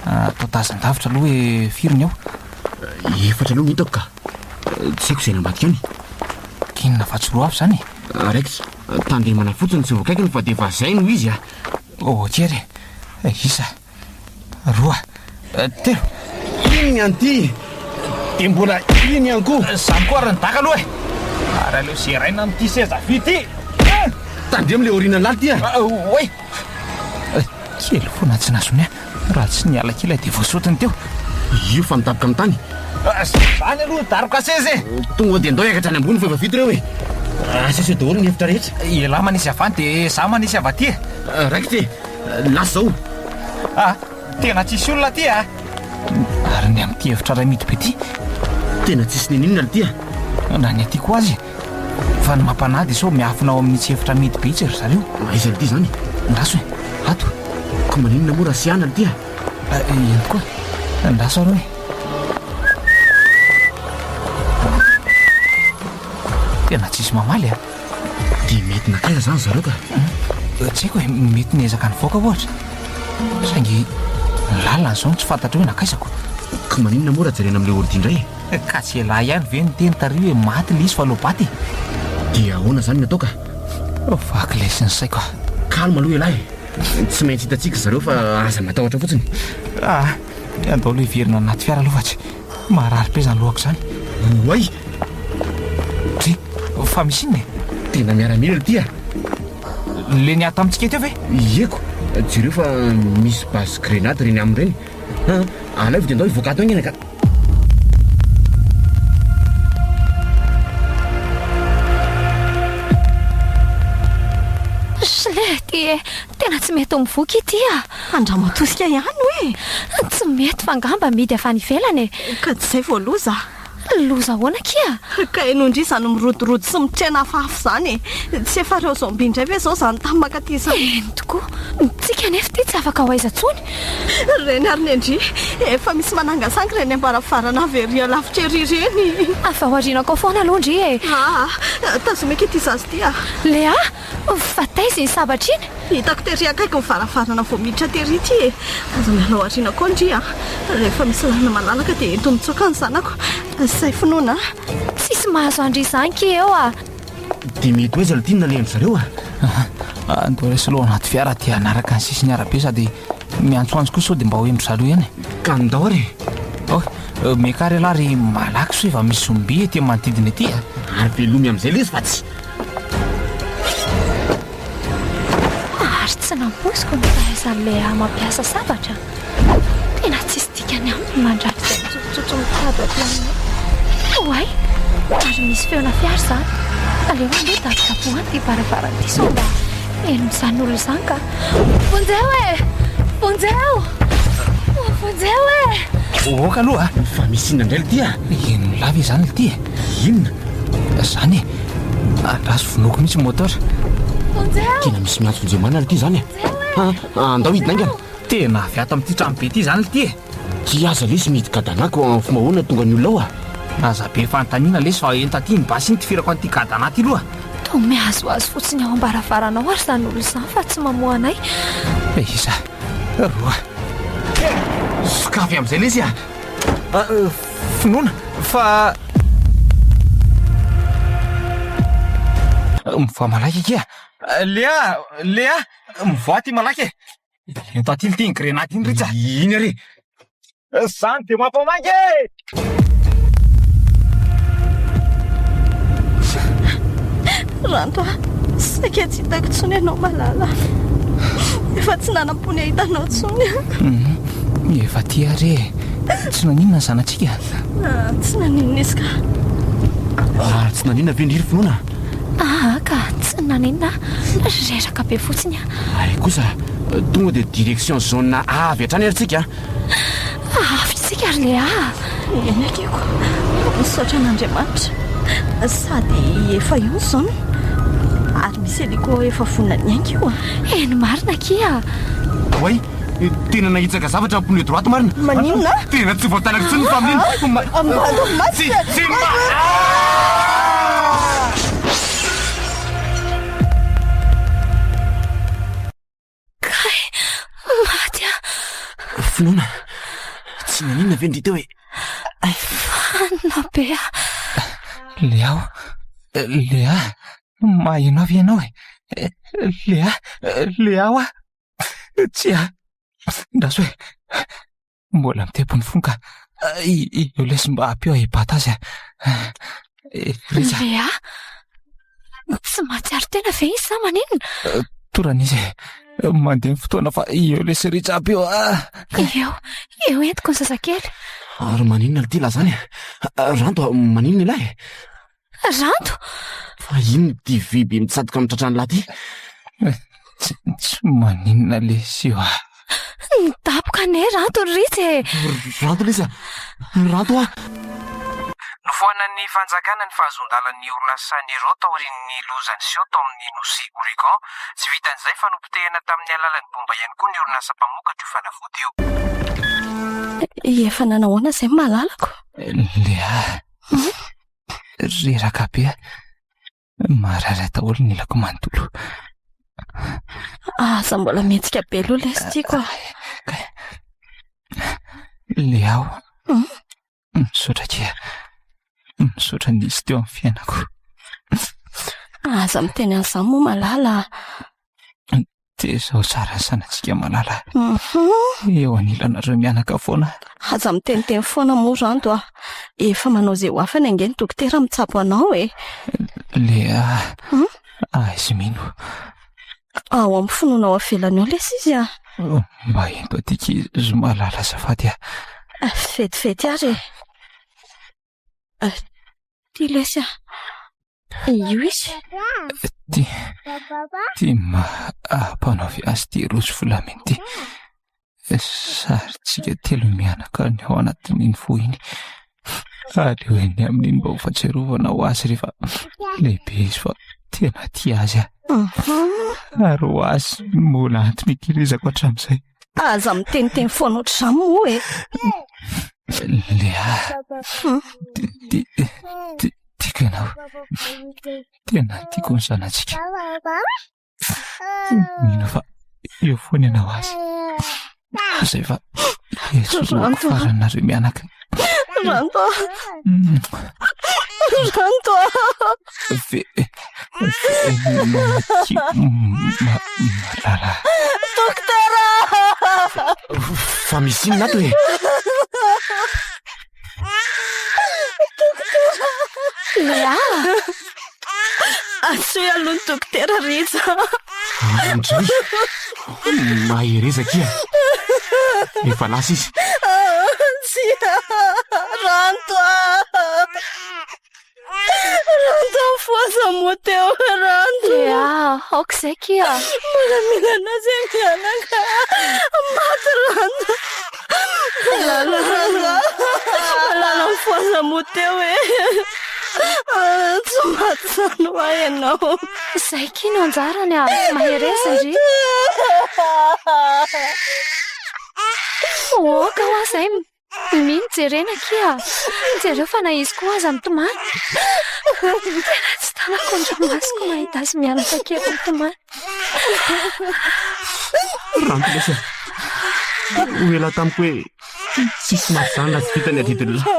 Atao tazan-davitra aloha hoe firy ny ao. Efatra aloha no hitako ka. Tsy haiko izay any ambadika any. Inona fa tsy roa avy izany e? Raikitra. Tandremana fotsiny tsy voakaikiny fa dia efa zay no izy a! Ok re! Isa, roa, telo! Iny ny an'ity dia mbola iny ihany koa! Zany koa ary ny daka aloha e! Ary aleo zeraina amin'ity seza vy ity e! Tandremo le aorianan'ny lalty a! Oay! Kely foana tsy nahazo ny ahy! Raha tsy niala kely aho dia voasotiny teo io fa nitapika amin'ny tany. Izany aloha daroka seza e! Tonga dia ndao hiakatra any ambony fa efa vita ireo e! Aseseho daholo ny efitra rehetra. Ialahy manisy avy any dia izaho manisy avy aty e! Raikitra e! Lasa izao! Aa! Tena tsisy olona aty a! Ary ny amin'ity efitra iray mihidy be ity? Tena tsisy n'inon'inona aty a! Na ny aty koa aza e! Fa ny mampanahy dia sao miafina ao amin'itsy efitra amidy be itsy ry zareo. Aiza an'ity izany? Andraso e! Ato e! Ka maninona moa raha tsy hianany ity a? Ihany koa. Andraso ary hoe. Tena tsisy mamaly a! Dia mety nankaiza izany zareo ka? Tsy haiko e, mety niezaka nivoaka ohatra. Saingy ny lalana izao no tsy fantatro hoe nankaiza koa. Ka maninona moa raha jerena amin'ilay ordi indray e? Kajy elah ihany ve ny teny tary hoe maty ilay izy fa lobat e? Dia ahoana izany ny atao ka? Vaky lesy ny saiko ah. Calme aloha elah e. Tsy maintsy hitantsika zareo fa aza matahotra fotsiny. Ah, andao aloha hiverina anaty fiara aloha fa tsy marary be izany lohako izany. Oay! Dry, fa misy inona e? Tena miaramila ilay ity ah. Le niahy tamintsika teo ve? Ieko, jereo fa misy base grenade ireny aminy ireny. Ah, alaivo dia andao hivoaka ato haingana ka. Slety e, tena tsy mety ho mivoky ity a. Andramatoska ihany hoe. Tsy mety fa ngamba midy avy any ivelany e. Ka tsy izay vao loza. Loza ahoana akia? Ka ianao indry izany mirodorodo sy mitrena afafy izany e. Tsy efa ireo zombie indray ve izao izany tany mankaty izany? Eny tokoa, ny tsika anefa ity tsy afaka ho aiza intsony. Ry Reny ary Nendry, efa misy manangasangy ireny ambaravarana avy ery alavitra ery ireny. Avy ao aorianakao foana aloha ndry e! Aa! Tazomiko ity zaza ity a! Lea! Fa taiza iny sabatra iny? Hitako tery akaiky ny varavarana vao miditra tery ity e! Aza miala ao aoriana koa ndry a! Rehefa misy lalana malalaka dia ento mitsoaka ny zanako. Izay finoana a! Tsisy mahazo an-dry izany ki eo a! Dia mety ho aiza no tiany nalehany zareo a? Aah, andao raisiko aloha ao anaty fiara dia hanaraka ny sisin'ny arabe sady miantsoantso koa sao dia mba ho hendry zareo ihany e. Ka ndao ary e! Oy, miakara ialahy ry malaky sao efa misy zombie ety amin'ny manodidina ety a! Ary velomy amin'izay lesy fa tsy. Ary tsy nampoiziko ny fahaizan'i Léa mampiasa sabatra. Tena tsisy dikany amiko ny mandrafitra ny tsofintsotso mikado aty aminay. Oay! Ary misy feona fiara izany. Aleo aloha dabodabohano ity varavarana ity sao mba henon'izany olona izany ka. Vonjeo e! Vonjeo! Vonjeo e! Ohoka aloha a! Fa misy inona indray litia? Henony lava izany litia e! Inona? Izany e! Andraso vonoiko mihitsy ny moteur. Vonjeo! Tena misy miantso vonjeo marina litia izany e! Andao hidina haingana! Tena avy ato amin'ity trano be ity izany lty e! Tsia aza lesy mihidy kadanà ko anfo mahoana tonga ny olona ao a! Aza be fanontaniana lesy fa enta aty ny basy iny tifirako an'ity kadanà ity loha! Toa mihazohazo fotsiny ao am-baravaranao ary izany olona izany fa tsy mamoha anay e! Isa, roa, telo! Sokafy amin'izay lesy a! A, finoana fa. Mivoaha malaky akia! Lea! Lea! Mivoaha aty malaky e! Io tatily ty ny grenady iny Rija! Iny ary! Zany dia mampamangy e! Ranto a, saika tsy hitako intsony ianao malala. Efa tsy nanam-pony hahita anao intsony aho. Mhm. Efa ty ary e. Tsy naninona ny zanatsika? Ah, tsy naninona izy ka. Ah, tsy naninona ve ny ry finoana? Ah, ka tsy naninona. Reraka be fotsiny aho. Ary kosa tonga dia direction zone A avy hatrany ary tsika a! Avy isika ry Léa a! Eny akiko, misaotra an'Andriamanitra, sady efa eo ny zone, ary misy hélico efa vonona ny hainga io a! Eny marina akia a! Oay! Tena nahitsaka zavatra pneu droite marina! Maninona a? Tena tsy voatanako intsony ny familiana! Ambadao masina! Tsy! Tsy! Aah! Kay! Maty aho! Finoana! Tsy naninona ve ny dite hoe Vanona be ah! Lea o! Lea! Maheno avy ianao e! Lea! Lea o ah! Tsia! Andraso e! Mbola mitepy ny fon ka. Eo lesy mba ampio ahibata azy ah. Eh, Rija. Lea, tsy mahatsiaro tena ve izy sa maninona? Eh, Torana izy. Eh, mandeha ny fotoana fa eo lesy Rija ampio ah. Eo, eo entiko ny zazakely. Ary maninona ity lazany? Ranto, maninona ilay? Rando! Fa inona ity vy be mitsatoka amin'ny tratran'lah ty? Tsy maninona lesy io ah! Nidaboka anie Rando ry Ritsy e! Rando lesy ah! Rando ah! Nofoanan'ny fanjakana ny fahazoan-dalan'ny orinasa Nero taorian'ny loza niseho tao amin'ny nosy Oregon. Tsy vitan'izay fa nopotehina tamin'ny alalan'ny bomba ihany koa ny orinasa mpamokatra io fanafody io. Efa nanahoana izay ny malalako? Leah. Reraka be aho. Marary ahy daholo ny ilako manontolo. Aza mbola mihetsika be aloha lesy tiako ah. Kay. Leao. Hmm? Misaotra kea. Misaotra nisy teo amin'ny fiainako. Aza miteny an'izany moa malala. Dia izao tsara ny sanatsika malala eo anilanareo mianaka foana. Aza miteniteny foana moa izany doa. Efa manao izay ho afany ange ny dokotera mitsabo anao e. Lea, aizy mino. Ao amin'ny finoana ao ivelany ao lesy izy a. Mba ento aty kay izy malala azafady a. Vetivety ary e. Tia lesy aho. Io izy. Tia. Tia ma ampanaovy azy ity rojo volamena ity. Sarintsika telo mianaka ny ao anatin'iny fo iny. Aleo eny amin'iny mba ho fahatsiarovana ho azy rehefa lehibe izy fa tena tia azy aho. Ary ho azy mbola antin'ikilizako hatramin'izay. Aza miteniteny foana ohatr'izany moa e. Lea, tiako ianao. Tena tiako ny zanatsika. Mino fa eo foana ianao azy. Izay fa esoroko faranareo mianaka. Ranto. Ranto. Dokotera! Fa misy inona ato e? Léa! Antsoy aloha ny dokotera Rija. Indray! Mahereza akia! Efa lasa izy. Tsia! Ranto ah! Rantafoza Motheo Ranto. Dia aoka izay kia. Miaramila anao zay mianaka. Maty Ranto. Malala Ranto. Malala mifoza Motheo e. Tsy maty zany hoa ianao. Izay kia no anjarany a. Mahereza ry. Aoka hoa izay. Mimì ny jerena akia a! Jereo fa na izy koa aza mitomany. Tena tsy tanako ny ranomasoko mahita azy mianaka kely mitomany. Ranty lesy a! Ho ela tamiko hoe tsisy maha-zany raha tsy vita ny adidin'ny lahy.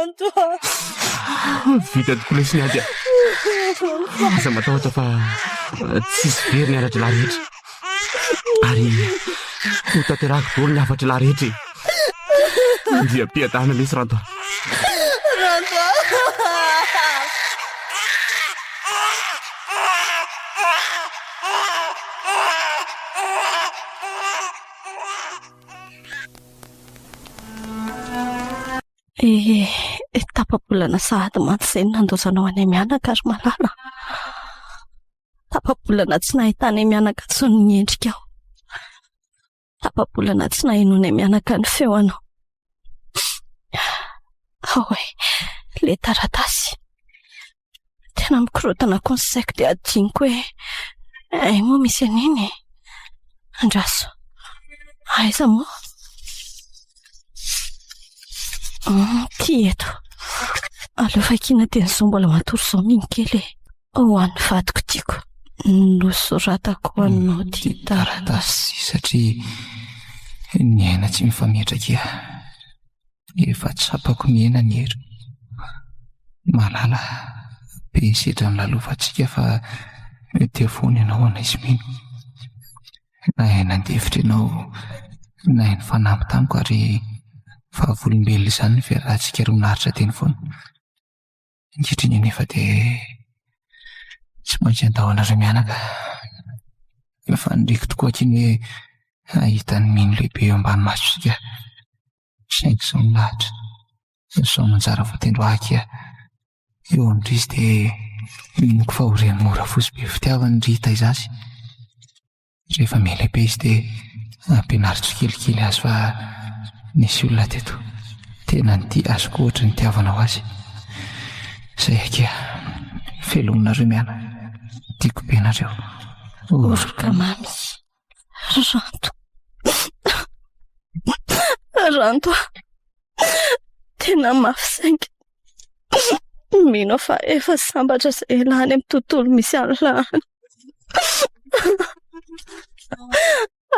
Vita tokoa lesy ny ady a! Aza matahotra fa tsisy very ny ara-drahalahy rehetra. Ary ho tanterahako daholo ny hafatry lahy rehetra e! Andriampiadana lesy Ranto a! Ranto a! Ehe, tapa-bolana sahady mantsy izay no nandaozanao anay mianaka ry Malala. Tapa-bolana tsy nahitanay mianaka intsony ny endrikao. Tapa-bolana tsy nahenoanay mianaka ny feo anao. Ahoe, ilay taratasy. Tena mikorontana koa ny saiko dia adinoko hoe ay moa misy an'iny e. Andraso. Aiza moa? Ity eto. Aleo vakina dia ny izao mbola matory izao mihinkely e. Ho an'ny vadiko tiako nosoratako anao ty taratasy satria ny aina tsy mifametraka efa tsapako ny aina ny hery malala be ny sedra ny lalovantsika fa dia foana ianao anaizy mino na aina ndefitra ianao na ainy fanamby tamiko ary fa volombelona izany ny fiarahantsika roa naritra teny foana Ankehitriny anefa dia tsy maintsy handao anareo mianaka. Fa faniriako tokoa aky ny hoe hahita ny mino lehibe eo ambany masontsika. Saingy sao ny lahatra, na sao ny anjara voatendry ho ahy akia, eo amin-dry izy dia miniko fa ho ren'i Mora fotsy be fitiavana ry Taizasy. Rehefa miha-lehibe izy dia ampianaro tsikelikely azy fa nisy olona teto tena nitia azy koa ohatry ny tiavanao azy. Izay akia, felominareo miana, tiako be nareo. Oroka mamy, ranto. Ranto, tena mafy saingy Mino aho fa efa sambatra izay lany amin'ny tontolo misy an'i la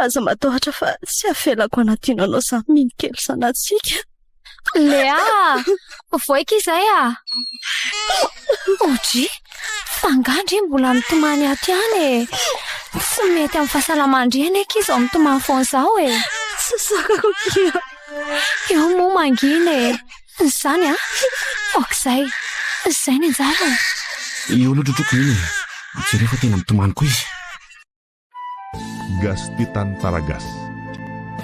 Aza matahotra fa tsy avelako hanadino anao izany mino kely zanatsika. Léa! Voaika izay à! OJ! Fa angaha ndry mbola mitomany ato ihany e! Tsy mety amin'ny fahasalaman-dry anie akia izao mitomany foana izao e! Tsy sakako akia! Eo moa mangina e! Izany an! Aoka izay! Izay ny anjarany! Eo aloha trotroko iny e! Jereo fa tena mitomany koa izy! Gasy te tany Taragasy.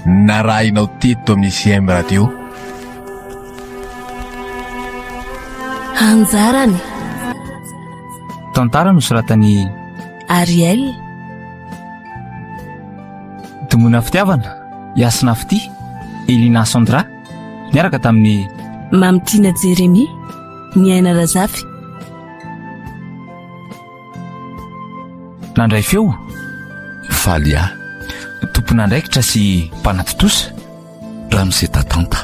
Narahinao teto amin'ny CM Radio. Anjarany. Tantara nosoratan'i. Ariel. Domoina fitiavana, Yasna Fitia, Elina Sandra. Niaraka tamin'ny Mamy Tina Jeremy, ny Aina Razafy. Nandray feo, Faly A. Tompon'andraikitra sy mpanatontosa, Ramose Tatanta.